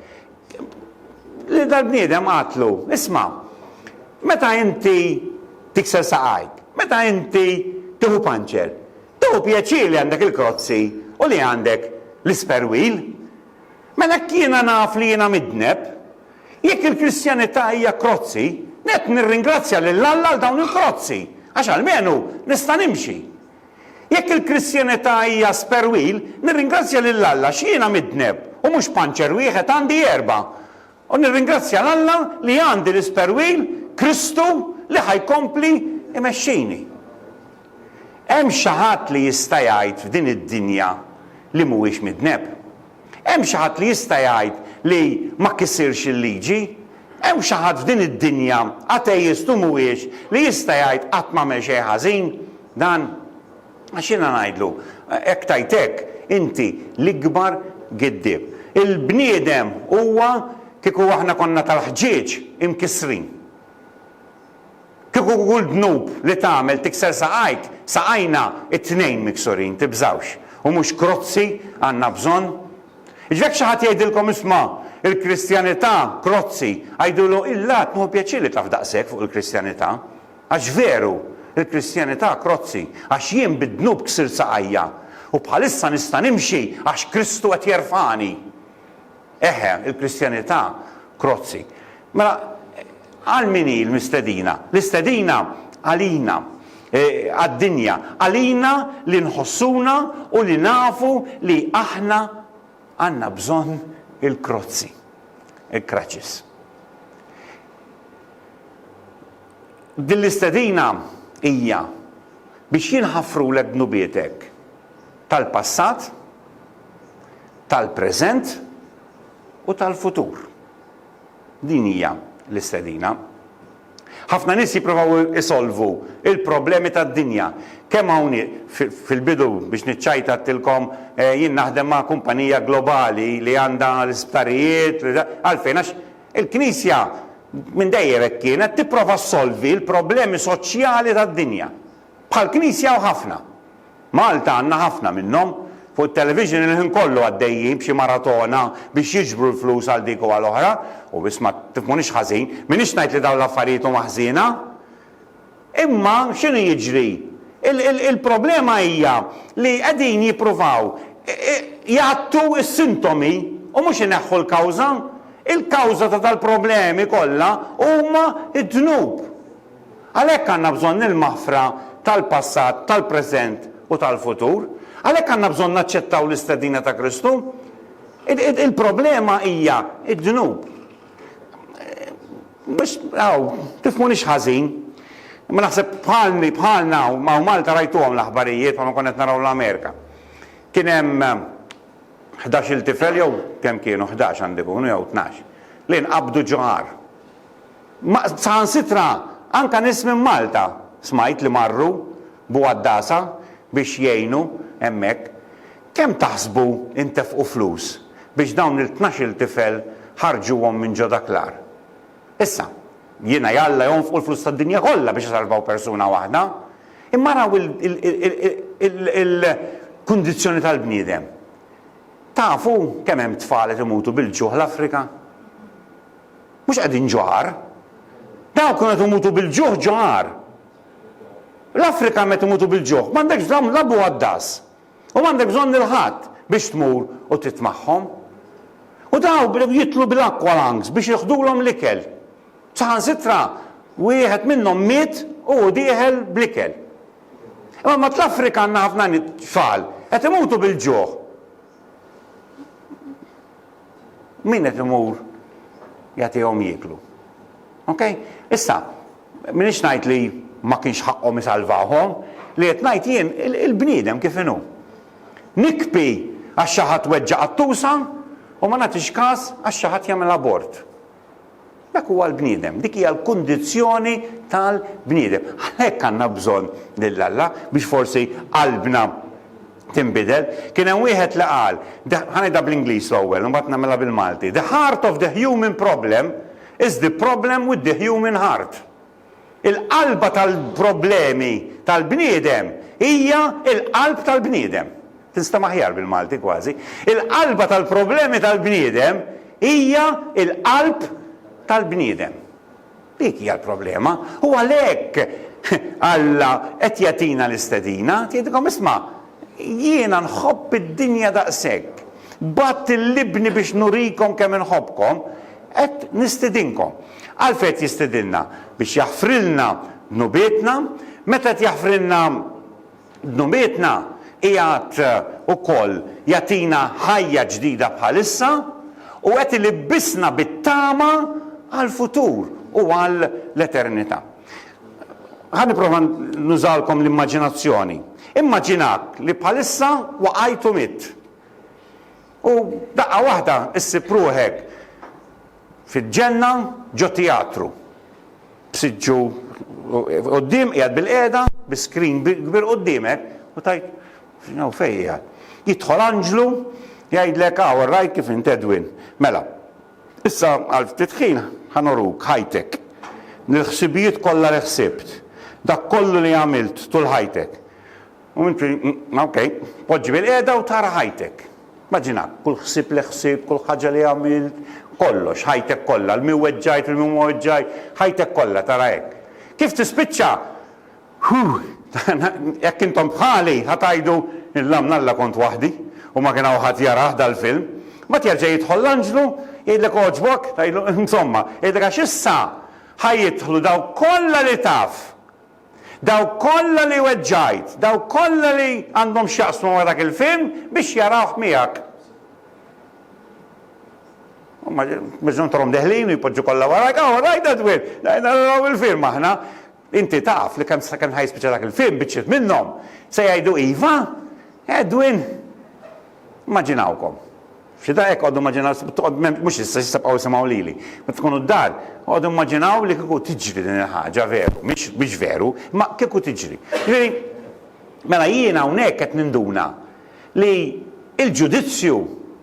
Lil dal-bniedem qaltlu, Isma', meta inti tikser saqajk, meta inti tieħu panċer, tieħu pjaċir li għandek il-krozzi u li għandek l-isperwil. Mela hekk jiena naf li jiena midneb. Jekk il-Kristjanità hija krozzi, nett nirringrazzja lil Alla għal dawn il-krozzi, għax almenu nista' nimxi. Jekk il-Kristjanità hija sperwil, nirringrazzja lil Alla x'jiena midneb u mhux panċer wieħed, għandi erba'. U nirringrazzja 'l Alla li għandi l-isperwil, Kristu, li ħa jkompli jmexxini. Hemm xi ħadd li jista' jgħid f'din id-dinja li mhuwiex midneb? Hemm xi ħadd li jista' jgħid li ma kisirx il-liġi? Hemm xi ħadd f'din id-dinja, ateist u mhuwiex, li jista' jgħid qatt m'għamel xejn ħażin? Dan għax jiena ngħidlu, hekk tgħid hekk, inti l-ikbar giddieb. Il-bniedem huwa kieku aħna konna tal-ħġieġ imkissrin. Kieku kull dnub li tagħmel tikser saqajk, saqajna t-tnejn miksurin, tibżgħux. U mhux krozzi għandna bżonn. Jiġifieri jekk xi ħadd jgħidilkom isma' il-Kristjanità krozzi, għidulu, il-Lat nieħu pjaċir li taf daqshekk fuq il-Kristjanità. Għax veru, il-Kristjanità krozzi, għax jien bid-dnub ksirt saqajja, u bħalissa nista' nimxi għax Kristu qed jerfagħni. Eħe, il-Kristjanità krozzi. Mela, għal min hi l-mistedina? L-istedina għalina, e, għad-dinja, għalina li nħossuna u li nafu li aħna għandna bżonn il-krozzi, il-kraċis. Din l-istedina hija biex jinħafrulek dnubietek tal-passat, tal-preżent u tal-futur. Din hija l-istedina. Ħafna nies jippruvaw isolvu l-problemi tad-dinja. Kemm hawn fil-bidu biex niċċajtattilkom jien naħdem ma' kumpanija globali li għandha l-isptarijiet, għalfejn għax Il-Knisja minn dejjem hekk kienet tipprova ssolvi l-problemi soċjali tad-dinja. Bħall-Knisja hawn ħafna. Malta għandna ħafna minnhom. Fuq it-television il-ħin kollu għaddejjin b'xi maratona biex jiġbru l-flus għal dik u għal oħra. U isma', tifhmunix ħażin, m'iniex ngħid li dawn l-affarijiet huma ħżiena. Imma x'inhu jiġri? Il-problema hija li qegħdin jippruvaw jgħattu s-sintomi u mhux ineħħu l-kawża. Il-kawża ta' dal-problemi kollha huma d-dnub. Għalhekk għandna bżonn il-maħfra tal-passat, tal-preżent u tal-futur. Għalhekk għandna bżonn naċċettaw l-istedina ta' Kristu. Il-problema hija d-dnub. Biex, aw, tifhmunix ħażin, imma naħseb bħalni, bħalna hawn, hawn Malta rajtuhom l-aħbarijiet bħalma konna qed naraw l-Amerika. Kien hemm ħdax-il tifel jew kemm kienu, ħdax għandu jkunu jew tnax, li nqabdu ġo għar. Ma saħansitra anke nies minn Malta smajt li marru b'Għaddasa biex jgħinu hemmhekk. Kemm taħsbu ntefqu flus biex dawn il-tnax-il tifel ħarġuhom minn ġo dak l-agħar? Issa, jiena jalla jonfqu l-flus tad-dinja kollha biex isalvaw persuna waħda, imma araw il-kundizzjoni tal-bniedem. Tafu kemm hemm tfal qed imutu bil-ġuħ l-Afrika? Mhux qegħdin ġo għar. Dawk kienu qed imutu bil-ġuħ ġo għar. L-Afrika hemm qed imutu bil-ġuħ. M'għandekx la blu għad-dażż. U m'għandek bżonn lil ħadd biex tmur u trid magħhom. U dawk bdew jitlu bil-aqualangs biex jiħdulhom l-ikel. Saħansitra wieħed minnhom miet u hu dieħel bl-ikel. Imma mat l-Afrika għandna ħafna tfal qed imutu bil-ġuħ. Min qed imur jagħtihom jieklu. Okay? Issa, M'iniex ngħid li ma kienx ħaqqhom isalvawhom. Li qed ngħid jien, il-bniedem kif inhu. Nikbi għax xi ħadd weġġa' qattusa u ma nagħtix kas għax xi ħadd jagħmel abort. Dak huwa l-bniedem, dik hija l-kundizzjoni tal-bniedem. Għalhekk għandna bżonn lil Alla biex forsi qalbna tinbidel. Kien hemm wieħed li qal, ħa ngħidha bl-Ingliż l-ewwel u mbagħad nagħmilha bil-Malti, The heart of the human problem is the problem with the human heart. Il-qalba tal-problemi tal-bniedem hija l-qalb tal-bniedem. Tinstam aħjar bil-Malti kważi. Il-qalba tal-problemi tal-bniedem hija l-qalb tal-bniedem. Dik hija l-problema. U għalhekk Alla qed jagħtina l-istedina, tgħidilkom isma' Jiena nħobb id-dinja daqshekk. Bgħatt lil Ibni biex nurikom kemm inħobbkom, qed nistidinkom. Għalfejn qed jistidinna? Biex jaħfrilna dnubietna. Meta qed jaħfrilna dnubietna, qiegħed ukoll jagħtina ħajja ġdida bħalissa u qed ilibbisna bit-tama għall-futur u għall-eternità. Ħa nipprova nużalkom l-immaġinazzjoni. Immaġinak li bħalissa waqajt u mitt. U daqqa waħda issib ruħek fil-ġenna ġo tijatru. B'siġġu quddiem qiegħed bil-qiegħda, bi screen kbir qudiemek u tgħid x'inhu fejn qiegħed. Jidħol anġlu jgħidlek aw rajt kif int Edwin. Mela, Issa għal ftit ħin ħa nuruk ħajtek, l-ħsibijiet kollha li ħsibt, dak kollu li għamilt tul ħajtek. U inti, ok, poġġi bilqiegħda u tara ħajtek. Maġina, kull ħsieb li ħsibt, kull ħaġa li għamilt, kollox, ħajtek kollha, l-min weġġajt, l-min ma weġġajt, ħajtek kollha tara hekk. Kif tispiċċa? Huh! Jekk intom bħali ħa tgħidu, L-lamn Alla kont waħdi u ma kien hawn ħadd jarah dal-film. Mbagħad jerġa' jidħol l-anġlu, jgħidlek Għoġbok? Tgħidlu, Insomma, jgħidlek għax issa ħa jidħlu dawk kollha li taf, dawk kollha li weġġajt, dawk kollha li għandhom x'jaqsmu ma' dak il-film biex jarawh miegħek. Huma biżżum torhom deħlin u jpoġġu kollha warajk, All right, Edwin, naraw il-film aħna. Inti taf li kemm sakemm ħa jispiċċa dak il-film, biċċiet minnhom se jgħidu iva! Edwin! Immaġinawkom. F'xi daqqa eqgħodu immaġinaw, mhux issa xi sebqgħu isimgħu lili. Meta tkunu d-dar, eqgħodu immaġinaw li kieku tiġri din il-ħaġa veru, mhix veru, imma kieku tiġri. Jiġifieri, mela jiena hawnhekk qed ninduna li l-ġudizzju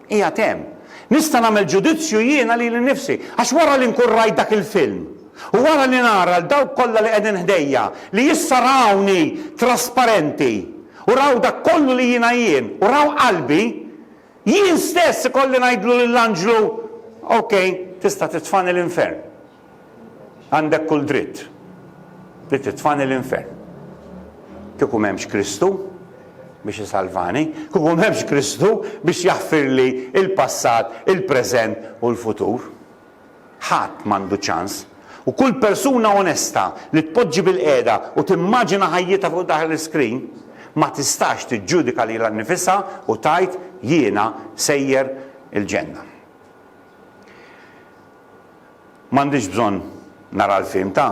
qiegħed hemm. Nista' nagħmel ġudizzju jiena lili nnifsi, għax wara li nkun rajt dak il-film, u wara li nara 'l dawk kollha li qegħdin ħdejja li issa rawni trasparenti, u raw dak kollu li jiena jien, u raw qalbi, jien stess ikolli ngħidlu lill-anġlu, 'Ok, tista' titfagħni l-infern. Għandek kull dritt li titfagħni l-infern. Kieku m'hemmx Kristu biex isalvani, kieku m'hemmx Kristu biex jaħfirli l-passat, il-preżent u l-futur. Ħadd m'għandu ċans. U kull persuna onesta li tpoġġi bilqiegħda u timmaġina ħajjitha fuq dak l-iskrin ma tistax tiġġudika lilha nnifisha u tgħid jiena sejjer il-ġenna. M'għandix bżonn nara l-film ta'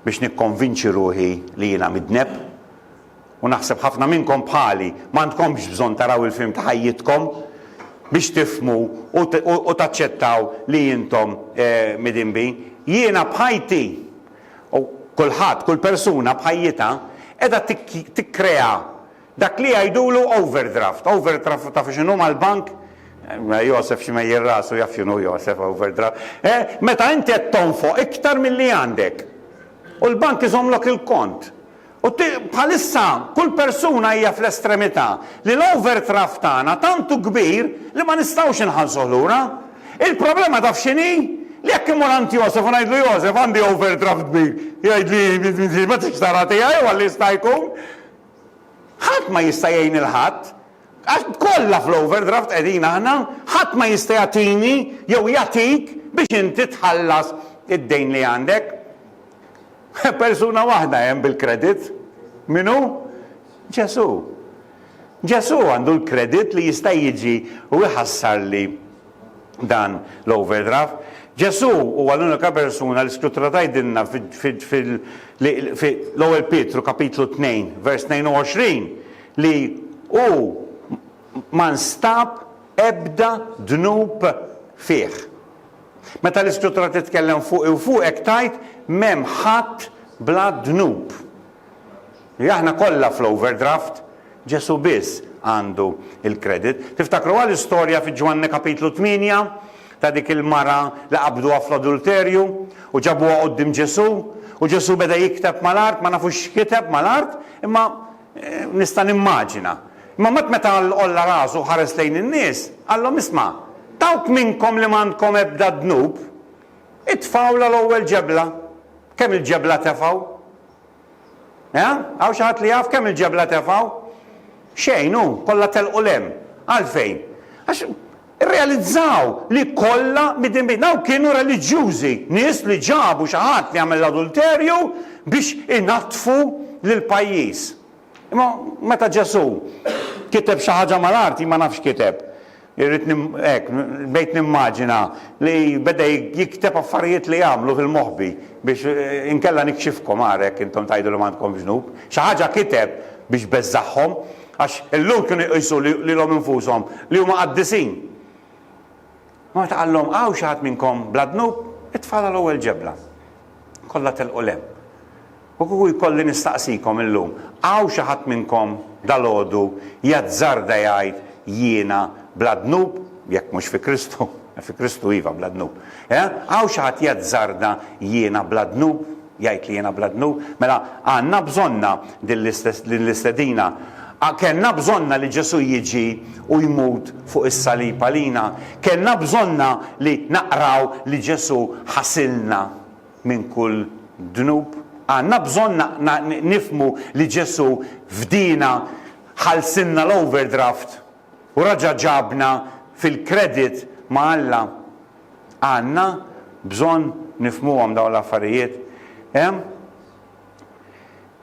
biex nikkonvinċi ruħi li jiena midneb. U naħseb ħafna minnkom bħali, m'għandkomx bżonn taraw il-film ta' ħajjitkom biex tifhmu u taċċettaw li intom midinbin. Jiena b'ħajti, u kulħadd, kull persuna b'ħajjitha, qiegħda tikkrea Dak li jgħidulu overdraft. Overdraft tafu x'inhu mal-bank? Josef x'imegħjel rasu jaf x'inhu Josef overdraft. Eh, meta inti qed tonfoq iktar milli għandek. U l-bank iżommlok il-kont. U bħalissa kull persuna hija fl-estremità li l-overdraft tagħna tant hu kbir li ma nistgħux inħallsuh lura. Il-problema taf x'inhi? Li jekk immur għand Josef u ngħidlu Josef għandi overdraft kbir, jgħidli ma tridx tara tiegħi u għalli jista' jkun. Ħadd ma jista' jgħin lil ħadd, għax kollha fl-overdraft qegħdin aħna, ħadd ma jista' jagħtini jew jagħtik biex inti tħallas id-dejn li għandek. Persuna waħda hemm bil-kredit. Min hu? Ġesù. Ġesù għandu l-kredit li jista' jiġi u jħassarli dan l-overdraft. Ġesù huwa l-unika persuna li Skrittura tgħidilna fil-ewwel Pietru kapitlu 2 vers 22 li hu ma nstab ebda dnub fih. Meta l-Iskrittura titkellem fuqi u fuqek tgħid m'hemm ħadd bla dnub. Li aħna kollha fl-overdraft, Ġesù biss għandu l-credit. Tiftakruha l-istorja fi Ġwanni Kapitlu 8 ta' dik il-mara li qabduha fl-adulterju u ġabuha quddiem Ġesù u Ġesù beda jikteb mal-art, ma nafux x'kiteb mal-art imma nista' nimmaġina. Imma mbagħad meta għolla rasu u ħares lejn in-nies, qalhom isma', dawk minnkom li m'għandkom ebda dnub, itfgħulha l-ewwel ġebla. Kemm il-ġebla tefgħu? Eh? Hawn xi ħadd li jaf kemm il-ġebla tefgħu? Xejn hu, kollha telqu l-hemm. Għalfejn? Għax irrealizzaw li kollha midin bejn. Hawn kienu reliġjużi, nies li ġabu xi ħadd li għamel l-adulterju biex inattfu lill-pajjiż. Imma meta Ġesù kiteb xi ħaġa mal-arti, ma nafx kiteb, irrid hekk, bdejt nimmaġina li beda jikteb affarijiet li għamlu fil-moħbi biex inkella nikxifkom ara jekk intom tgħidu li m'għandkomx dnub. Xi ħaġa kiteb biex beżżagħhom, għax illum kienu jqisu lilhom infushom li huma qaddisin. Ma meta qallhom hawn xi ħadd minnkom bla dnub, it-tfal għal ewwel ġebla. Kollha telqu 'l hemm. U kieku jkolli nistaqsikom illum, hawn xi ħadd minnkom dalgħodu jazzarda jgħid jiena bla dnub, jekk mhux fi Kristu, fi Kristu iva bla dnub. Eh? Hawn xi ħadd jazzarda jiena bla dnub, jgħid li jiena bla dnub? Mela għandna bżonnha din l-istedina. Kellna bżonnha li Ġesù jiġi u jmut fuq is-salib għalina. Kellna bżonnha li naqraw li Ġesù ħasilna. minn kull dnub. Għandna bżonn nifhmu li Ġesù fdiena, ħallsilna l-overdraft u raġa' ġabna fil-credit ma' Alla. Għandna bżonn nifhmuhom dawn l-affarijiet.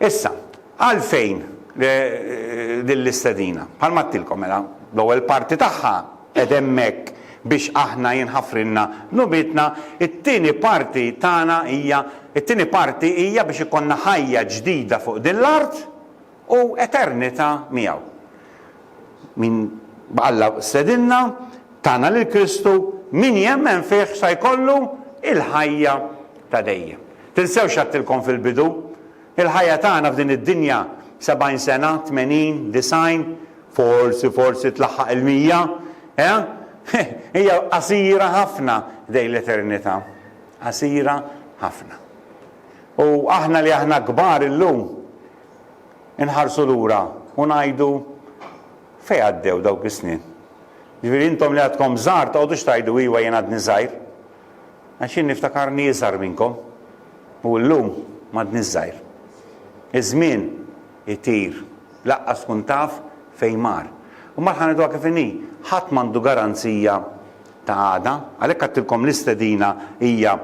Issa, għalfejn din l-istedina? Bħalma għedtilkom mela, l-ewwel parti tagħha qed hemmhekk biex aħna jinħafrilna dnubietna, it-tieni parti tagħna hija, it-tieni parti hija biex ikollna ħajja ġdida fuq din l-art, u eternità miegħu. Min b'Alla stedinna, tana lil Kristu, min jemmen fih sa jkollu il-ħajja ta' dejjem. Tinsewx x'għedtilkom fil-bidu, il-ħajja tagħna f'din id-dinja sebgħin sena, tmenin, disgħin, forsi forsi tlaħħaq il-mija, eh? Hija qasira ħafna dejn l-eternità. Qasira ħafna. U aħna li aħna kbar illum, inħarsu lura u ngħidu, Fejn għaddew dawk is-snin? Ġifieri intom li għadkom żgħar toqgħodux tgħidu, Iwa jien għadni żgħir. Għax jien niftakarni iżgħar minnkom u llum m'għadniex żgħir. Iż-żmien itir, lanqas tkun taf fejn mar. U mbagħad ħa ngħiduha kif inhi, ħadd m'għandu garanzija ta' għada, għalhekk għedtilkom l-istedina hija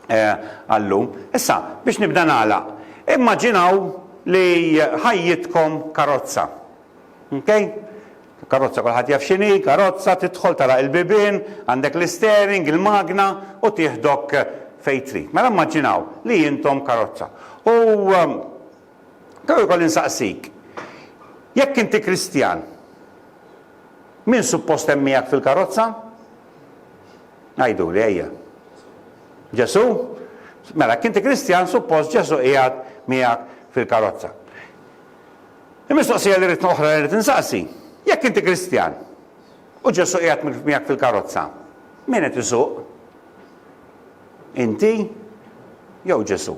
għal-lum. Issa, biex nibda nagħlaq, immaġinaw li ħajjitkom karozza. Ok? Karozza kulħadd jaf x'inhi, karozza tidħol tagħlaq il-bibien, għandek l-istering, il-magna u tieħdok fejn trid. Mela immaġinaw li intom karozza. U kemm ikolli nsaqsik, jekk inti Kristjan, min suppost hemm miegħek fil-karozza? Għiduli, ejja. Ġesù? Mela, kinti Kristjan, suppost Ġesù qiegħed miegħek fil-karozza. Il-mistoqsija li rrid oħra li rrid insaqsi, jekk inti Kristjan u Ġesù qiegħed miegħek fil-karozza, min qed isuq? Inti jew Ġesù?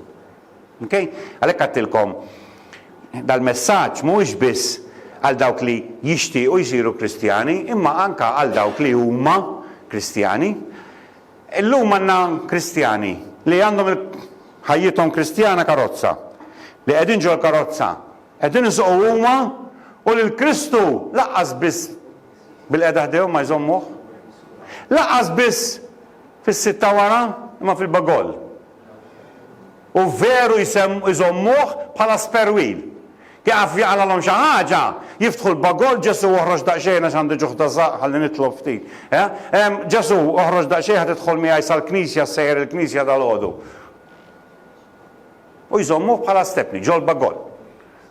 Okay? Għalhekk għedtilkom dal-messaġġ mhuwiex biss għal dawk li jixtiequ jsiru Kristjani, imma anke għal dawk li huma Kristjani. Illum għandna Kristjani li għandhom ħajjithom Kristjana karozza, li qegħdin ġol karozza, qegħdin isuqu huma u lil Kristu laqqas biss bil-qeda ħdejhom ma jżommuh. Laqqas biss fis-sitta wara imma fil-bagol. u veru jżommuh bħala spare wheel. Jaqaf jaqralhom xi ħaġa, jiftħu l-bagoll, Ġesù oħroġ daqsxejn għax għandi ġuħ ta' żaqq, ħalli nitlob ftit. Ġesù, oħroġ daqsxejn ħa tidħol miegħi sal-knisja, ssejjer il-knisja dalgħodu. U jżommuh bħala stepni, ġol-bagoll.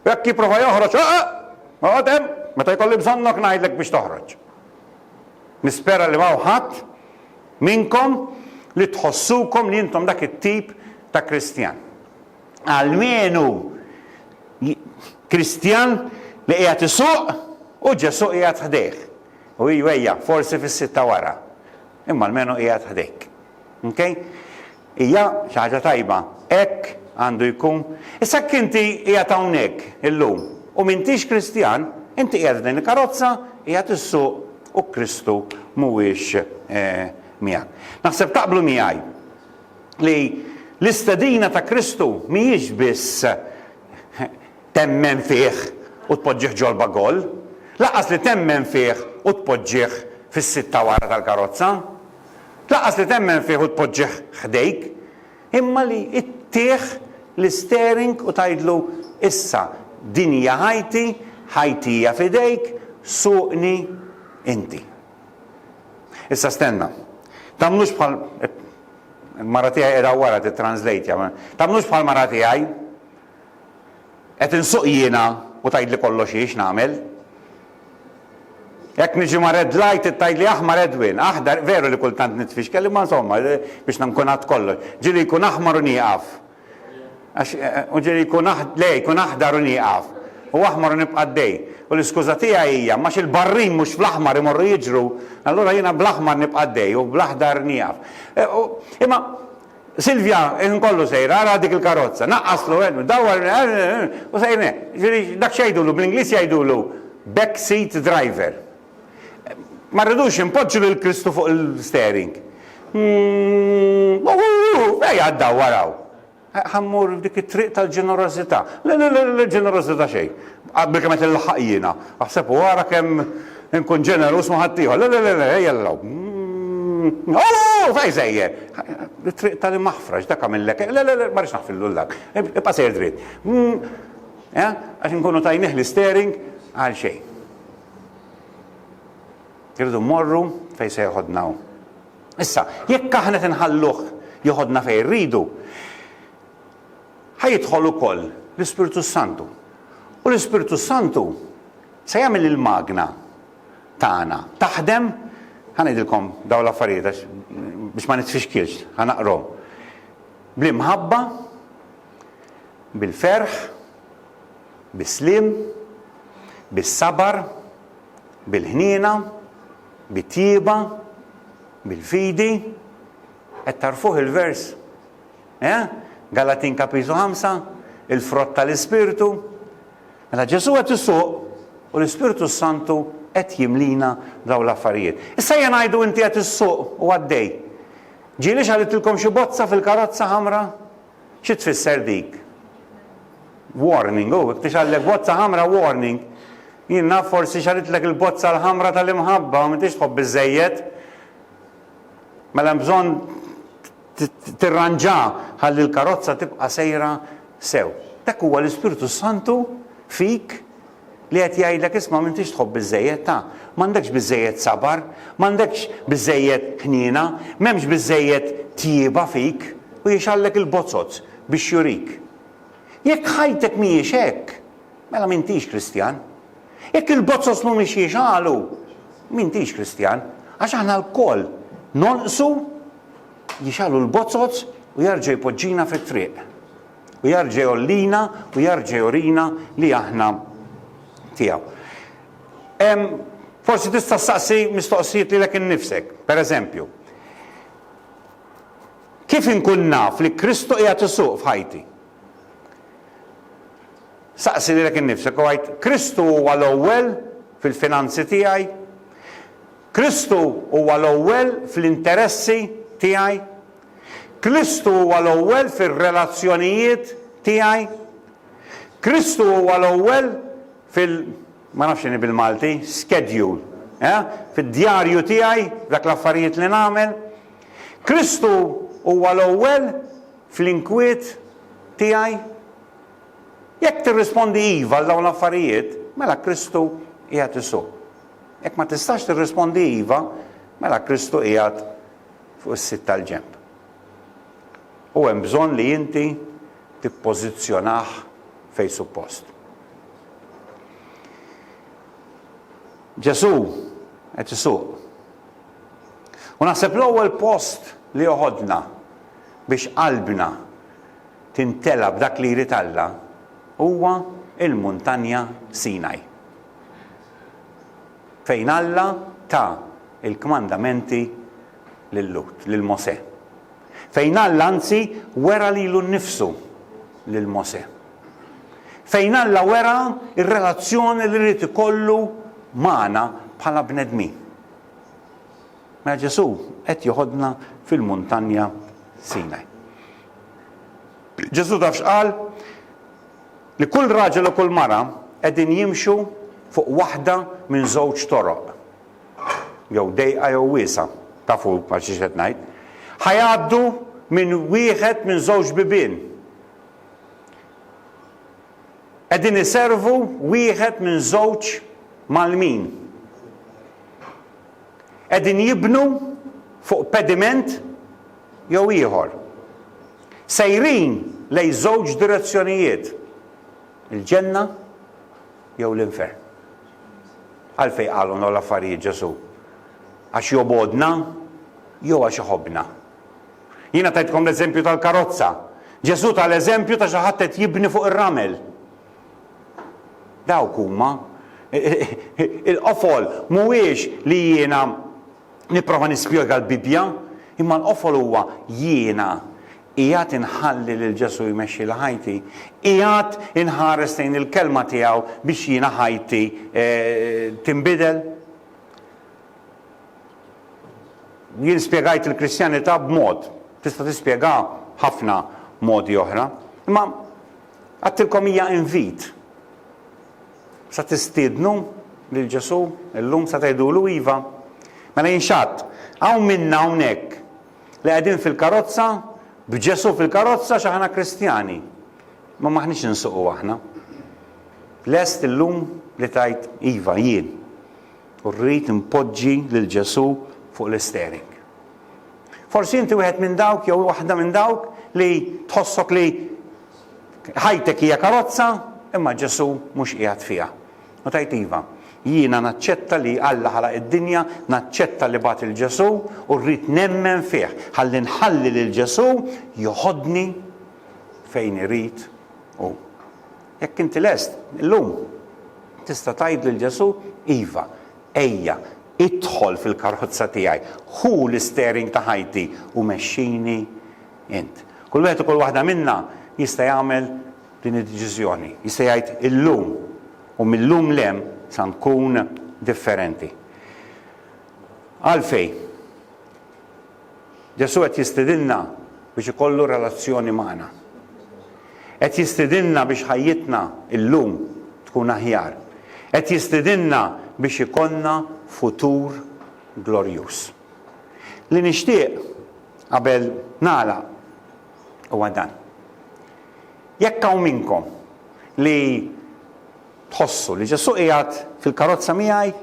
U jekk jipprova joħroġ, oqgħod hemm, meta jkolli bżonnok ngħidlek biex toħroġ. Nispera li ma ħadd minnkom li tħossukom li intom dak it-tip ta' Kristjan. Almenu Kristjan li qiegħed isuq u Ġesù qiegħed ħdejh. U ejja, forsi fis-sitta wara. Imma almenu qiegħed ħdejk. Okay? Hija xi ħaġa tajba. Hekk għandu jkun. Issa jekk inti qiegħed hawnhekk illum u m'intix Kristjan, inti qiegħed f'din il-karozza, qiegħed issuq u Kristu mhuwiex miegħek. Naħseb taqblu miegħi li l-istedina ta' Kristu mhijiex biss temmen fih u tpoġġih ġolba goal, lanqas li temmen fih u tpoġġih fis-sitta wara tal-karozza. Lanqas li temmen fih u tpoġġih ħdejk, imma li ittih l-isteering u tgħidlu, Issa, din hija ħajti, ħajti hija f'idejk, suqni inti. Issa stenna. Tagħmlux bħal il-mara tiegħi qiegħda wara tittranslejtja. Tagħmlux bħall-mara tiegħi. Qed insuq jiena u tgħidli kollox hi x'nagħmel. Jekk niġi ma' red light hi tgħidli aħmar Edwin, aħdar, veru li kultant nitfixkel imma insomma biex nkun għadt kollox. Ġieli jkun aħmar u nieqaf. Għax u ġieli jkun le jkun aħdar u nieqaf. U aħmar u nibqa' għaddej. U l-iskuża tiegħi hija m'għax il-barrin mhux fl-aħmar imorru jiġru, allura jiena bl-aħmar nibqa' għaddej u bl-aħdar nieqaf. Imma Silvia, il-ħin kollu sejra, ara dik il-karozza, naqqaslu, dawwar, u sejrin hekk. Jiġifieri dak x'jgħidulu, bl-Ingliż jgħidulu back seat driver. Ma rridux inpoġġu lil Kristu fuq il-steering. Ejja ddawwar hawn. Ħammur f'dik it-triq tal-ġenerożità. Le, le, le, ġenerożità xejn. Bil-kemm qed inlaħħaq jiena. Aħseb u ara kemm Inkun ġeneruż ma' ħaddieħor. Le, le, le, le, ejja l-logħob. Mm, oh, fej sejjer! It-triq tal-maħfra, x'dak għamillek? Le, le, le, ma rridx naħfillu l-lak. Ibqa' sejjer dritt. Mm, eh, għax inkunu tajnih l-istering għal xejn. Irridu mmorru fejn se joħodna hu. Issa, jekk aħna tinħalluh joħodna fejn rridu, ħajidħol ukoll l-Ispirtu Santu. U l-Ispirtu Santu Se jagħmel il-magna tagħna taħdem, ħa ngħidilkom dawn l-affarijiet għax biex ma nitfixkilx, ħa naqrom. Bl-imħabba, bil-ferħ, bis-sliem, bis-sabar, bil-ħniena, bit-tjieba, bil-fidi, qed tarfuh il-vers? Eħe, Galatin kapitlu ħamsa, il-frott tal-Ispirtu. Mela Ġesù qed isuq u l-Ispirtu s-Santu qed jimlina dawn l-affarijiet. Issa ejja ngħidu inti qed issuq u għaddej. Ġieli xagħlitilkom xi bozza fil-karozza ħamra? Xi tfisser dik? Warning, u jekk tixgħallek bozza ħamra warning. Jien naf forsi xagħlitlek il-bozza l-ħamra tal-imħabba, m'intix tħobb biżejjed. Mela hemm bżonn tirranġa ħalli l-karozza tibqa' sejra sew. Dak huwa l-Ispirtu s-Santu fik li qed jgħidlek isma' m'intix tħobb biżżejjed, ta, m'għandekx biżżejjed sabar, m'għandekx biżżejjed ħniena, m'hemmx biżżejjed tjieba fik, u jixgħallek il-bozzoz biex jurik. Jekk ħajtek mhijiex hekk, mela m'intix Kristjan. Jekk il-bozzoz mhumiex jixgħalu, m'intix Kristjan, għax aħna lkoll nonqsu jixgħalu l-bozzoz u jarġa' jpoġġina fit-triq. U jarġa' jgħollina u jarġa' jurina li aħna tiegħu. Forsi tista' ssaqsi mistoqsijiet lilek innifsek, pereżempju, kif inkun naf li Kristu qiegħed isuq f'ħajti? Saqsi lilek innifsek u għid, Kristu huwa l-ewwel fil-finanzi tiegħi? Kristu huwa l-ewwel fl-interessi tiegħi? Kristu huwa l-ewwel fir-relazzjonijiet tiegħi? Kristu huwa l-ewwel fil ma nafx x'inhi bil-Malti, schedule, eh? Fid-djarju tiegħi, f'dak l-affarijiet li nagħmel? Kristu huwa l-ewwel fl-inkwiet tiegħi? Jekk tirrispondi iva għal dawn l-affarijiet, mela Kristu qiegħed isuq. Jekk ma tistax tirrispondi iva, mela Kristu qiegħed fuq is-sid tal-ġenb. U hemm bżonn li inti tippożizzjonah fejn suppost. Ġesù qed isuq. U naħseb l-ewwel post li joħodna biex qalbna tintela b'dak li jrid Alla huwa l-muntanja Sinaj. fejn Alla ta l-kmandamenti lil Lut, lil Mosè. Fejn Alla anzi wera lilu nnifsu lil Mosè. Fejn Alla wera r-relazzjoni li ried ikollu magħna bħala bnedmin. Mela Ġesù qed joħodna fil-muntanja Sinaj. Ġesù taf x'qal? Li kull raġel u kull mara qegħdin jimxu fuq waħda minn żewġ toroq, jew dejqa jew wiesgħa, tafu għal xiex qed ngħid, ħa jgħaddu minn wieħed minn żewġ bibien. Qegħdin iservu wieħed minn żewġ mgħallmin. Qegħdin jibnu fuq pediment jew ieħor, sejrin lejn żewġ direzzjonijiet, il-Ġenna jew l-Infern. Għalfejn qalhom dawn l-affarijiet Ġesù? Għax jobgħodna jew għax iħobbna? Jiena tajtkom l-eżempju tal-karozza. Ġesù ta l-eżempju ta' xi ħadd qed jibni fuq ir-ramel. Dawk huma il-qofol mhuwiex li jiena Nipprova nispjega l-Bibbja, imma l-qofol huwa jiena. Qiegħed inħalli lil Ġesù jmexxi li ħajti? Qiegħed inħares lejn il-Kelma tiegħu biex jiena ħajti tinbidel? Jien spjegajt il-Kristjanità b'mod, tista' tispjegaha b'ħafna modi oħra. Imma għedtilkom hija invit. Se tistiednu lil Ġesù llum? Se tgħidulu iva? Mela jien x'għadt? Hawn minna hawnhekk li qegħdin fil-karozza, b'Ġesù fil-karozza għax aħna Kristjani. Imma m'aħniex insuqu aħna. Lest illum li tgħid iva jien. U rrid inpoġġi lil Ġesù fuq l-istering. Forsi inti wieħed minn dawk jew waħda minn dawk li tħossok li ħajtek hija karozza, imma Ġesù mhux qiegħed fiha. U tgħid iva, jiena naċċetta li Alla ħalaq id-dinja, naċċetta li bagħat 'il Ġesù u rrid nemmen fih ħalli nħalli lil Ġesù joħodni fejn irid hu. Jekk inti lest, illum tista' tgħid lil Ġesù iva, Ejja, idħol fil-karozza tiegħi, ħu l-isteering ta' ħajti u mexxini int. Kull wieħed u kull waħda minna jista' jagħmel din id-deċiżjoni, jista' jgħid illum u mil-lum 'l hemm sa nkun differenti. Għalfejn? Ġesù qed jistidinna biex ikollu relazzjoni magħna. Qed jistidinna biex ħajjitna llum tkun aħjar. Qed jistidinna biex ikollna futur glorjuż. Li nixtieq qabel nagħlaq huwa dan. Jekk hawn minnkom li tħossu li Ġesù qiegħed fil-karozza miegħi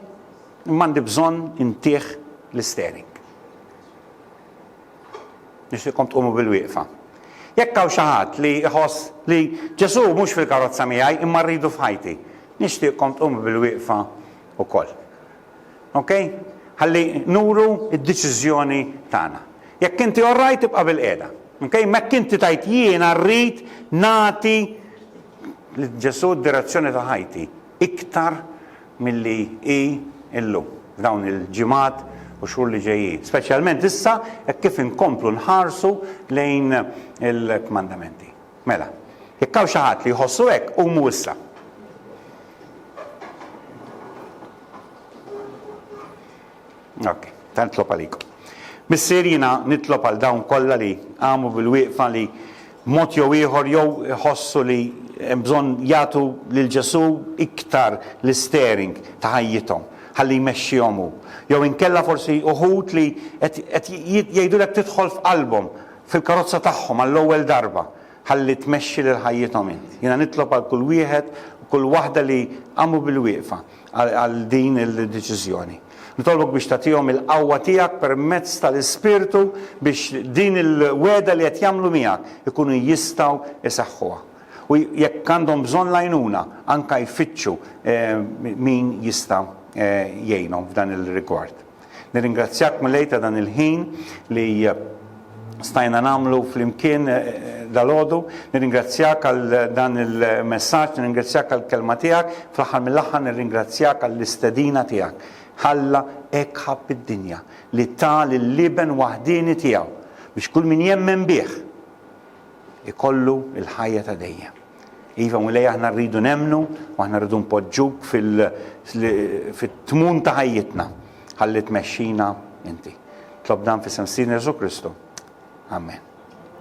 imma għandi bżonn intih l-istering. Nixtieqkom tqumu bil-wieqfa. Jekk hawn xi ħadd li jħoss li Ġesù mhux fil-karozza miegħi imma rridu f'ħajti, nixtieqkom tqumu bil-wieqfa wkoll. Ok? Ħalli nuru d-deċiżjoni tagħna. Jekk inti orrajt tibqa' bil-qiegħda. Ok? Mekk inti tajt jiena rrid nagħti lil Ġesù d-direzzjoni ta' ħajti. iktar milli hi llum, f'dawn il-ġimgħat u xhur li ġejjin, speċjalment issa hekk kif inkomplu nħarsu lejn il-kmandamenti. Mela, jekk hawn xi ħadd li jħossu hekk, qumu issa. Ok. Ta' nitlob għalik. Missier jiena nitlob għal dawn kollha li qamu bil-wieqfa li b'mod jew ieħor jew iħossu li hemm bżonn jagħtu lil Ġesù iktar l-isteering ta' ħajjithom ħalli jmexxihom hu. Jew inkella forsi uħud li qed qed jgħidulek tidħol f'qalbhom, fil-karozza tagħhom għall-ewwel darba ħalli tmexxi lil ħajjithom int. Jiena nitlob għal kull wieħed u kull waħda li qamu bil-wieqfa. għal din il-deċiżjoni. Nitolbok biex tagħtihom il-qawwa tiegħek permezz tal-Ispirtu biex din il-wegħda li qed jagħmlu miegħek ikunu jistgħu jsaħħuha. U jekk għandhom bżonn l-għajnuna, anke jfittxu min jista' jgħinhom f'dan ir-rigward. Nirringrazzjak Mulej ta' dan il-ħin li stajna nagħmlu flimkien dalgħodu. Nirringrazzjak għal dan il-messaġġ, nirringrazzjak għal kelma tiegħek, fl-aħħar mill-aħħar nirringrazzjak għall-istedina tiegħek. Ħalla hekk ħabb id-dinja li ta lill-Iben waħdieni tiegħu biex kull min jemmen bih ikollu l-ħajja ta' dejjem. Iva Mulej aħna rridu nemmnu u aħna rridu npoġġuk fit-tmun ta' ħajjitna ħalli tmexxina inti. Tlob dan fis-sem Sidna Ġesu Kristu. Amen.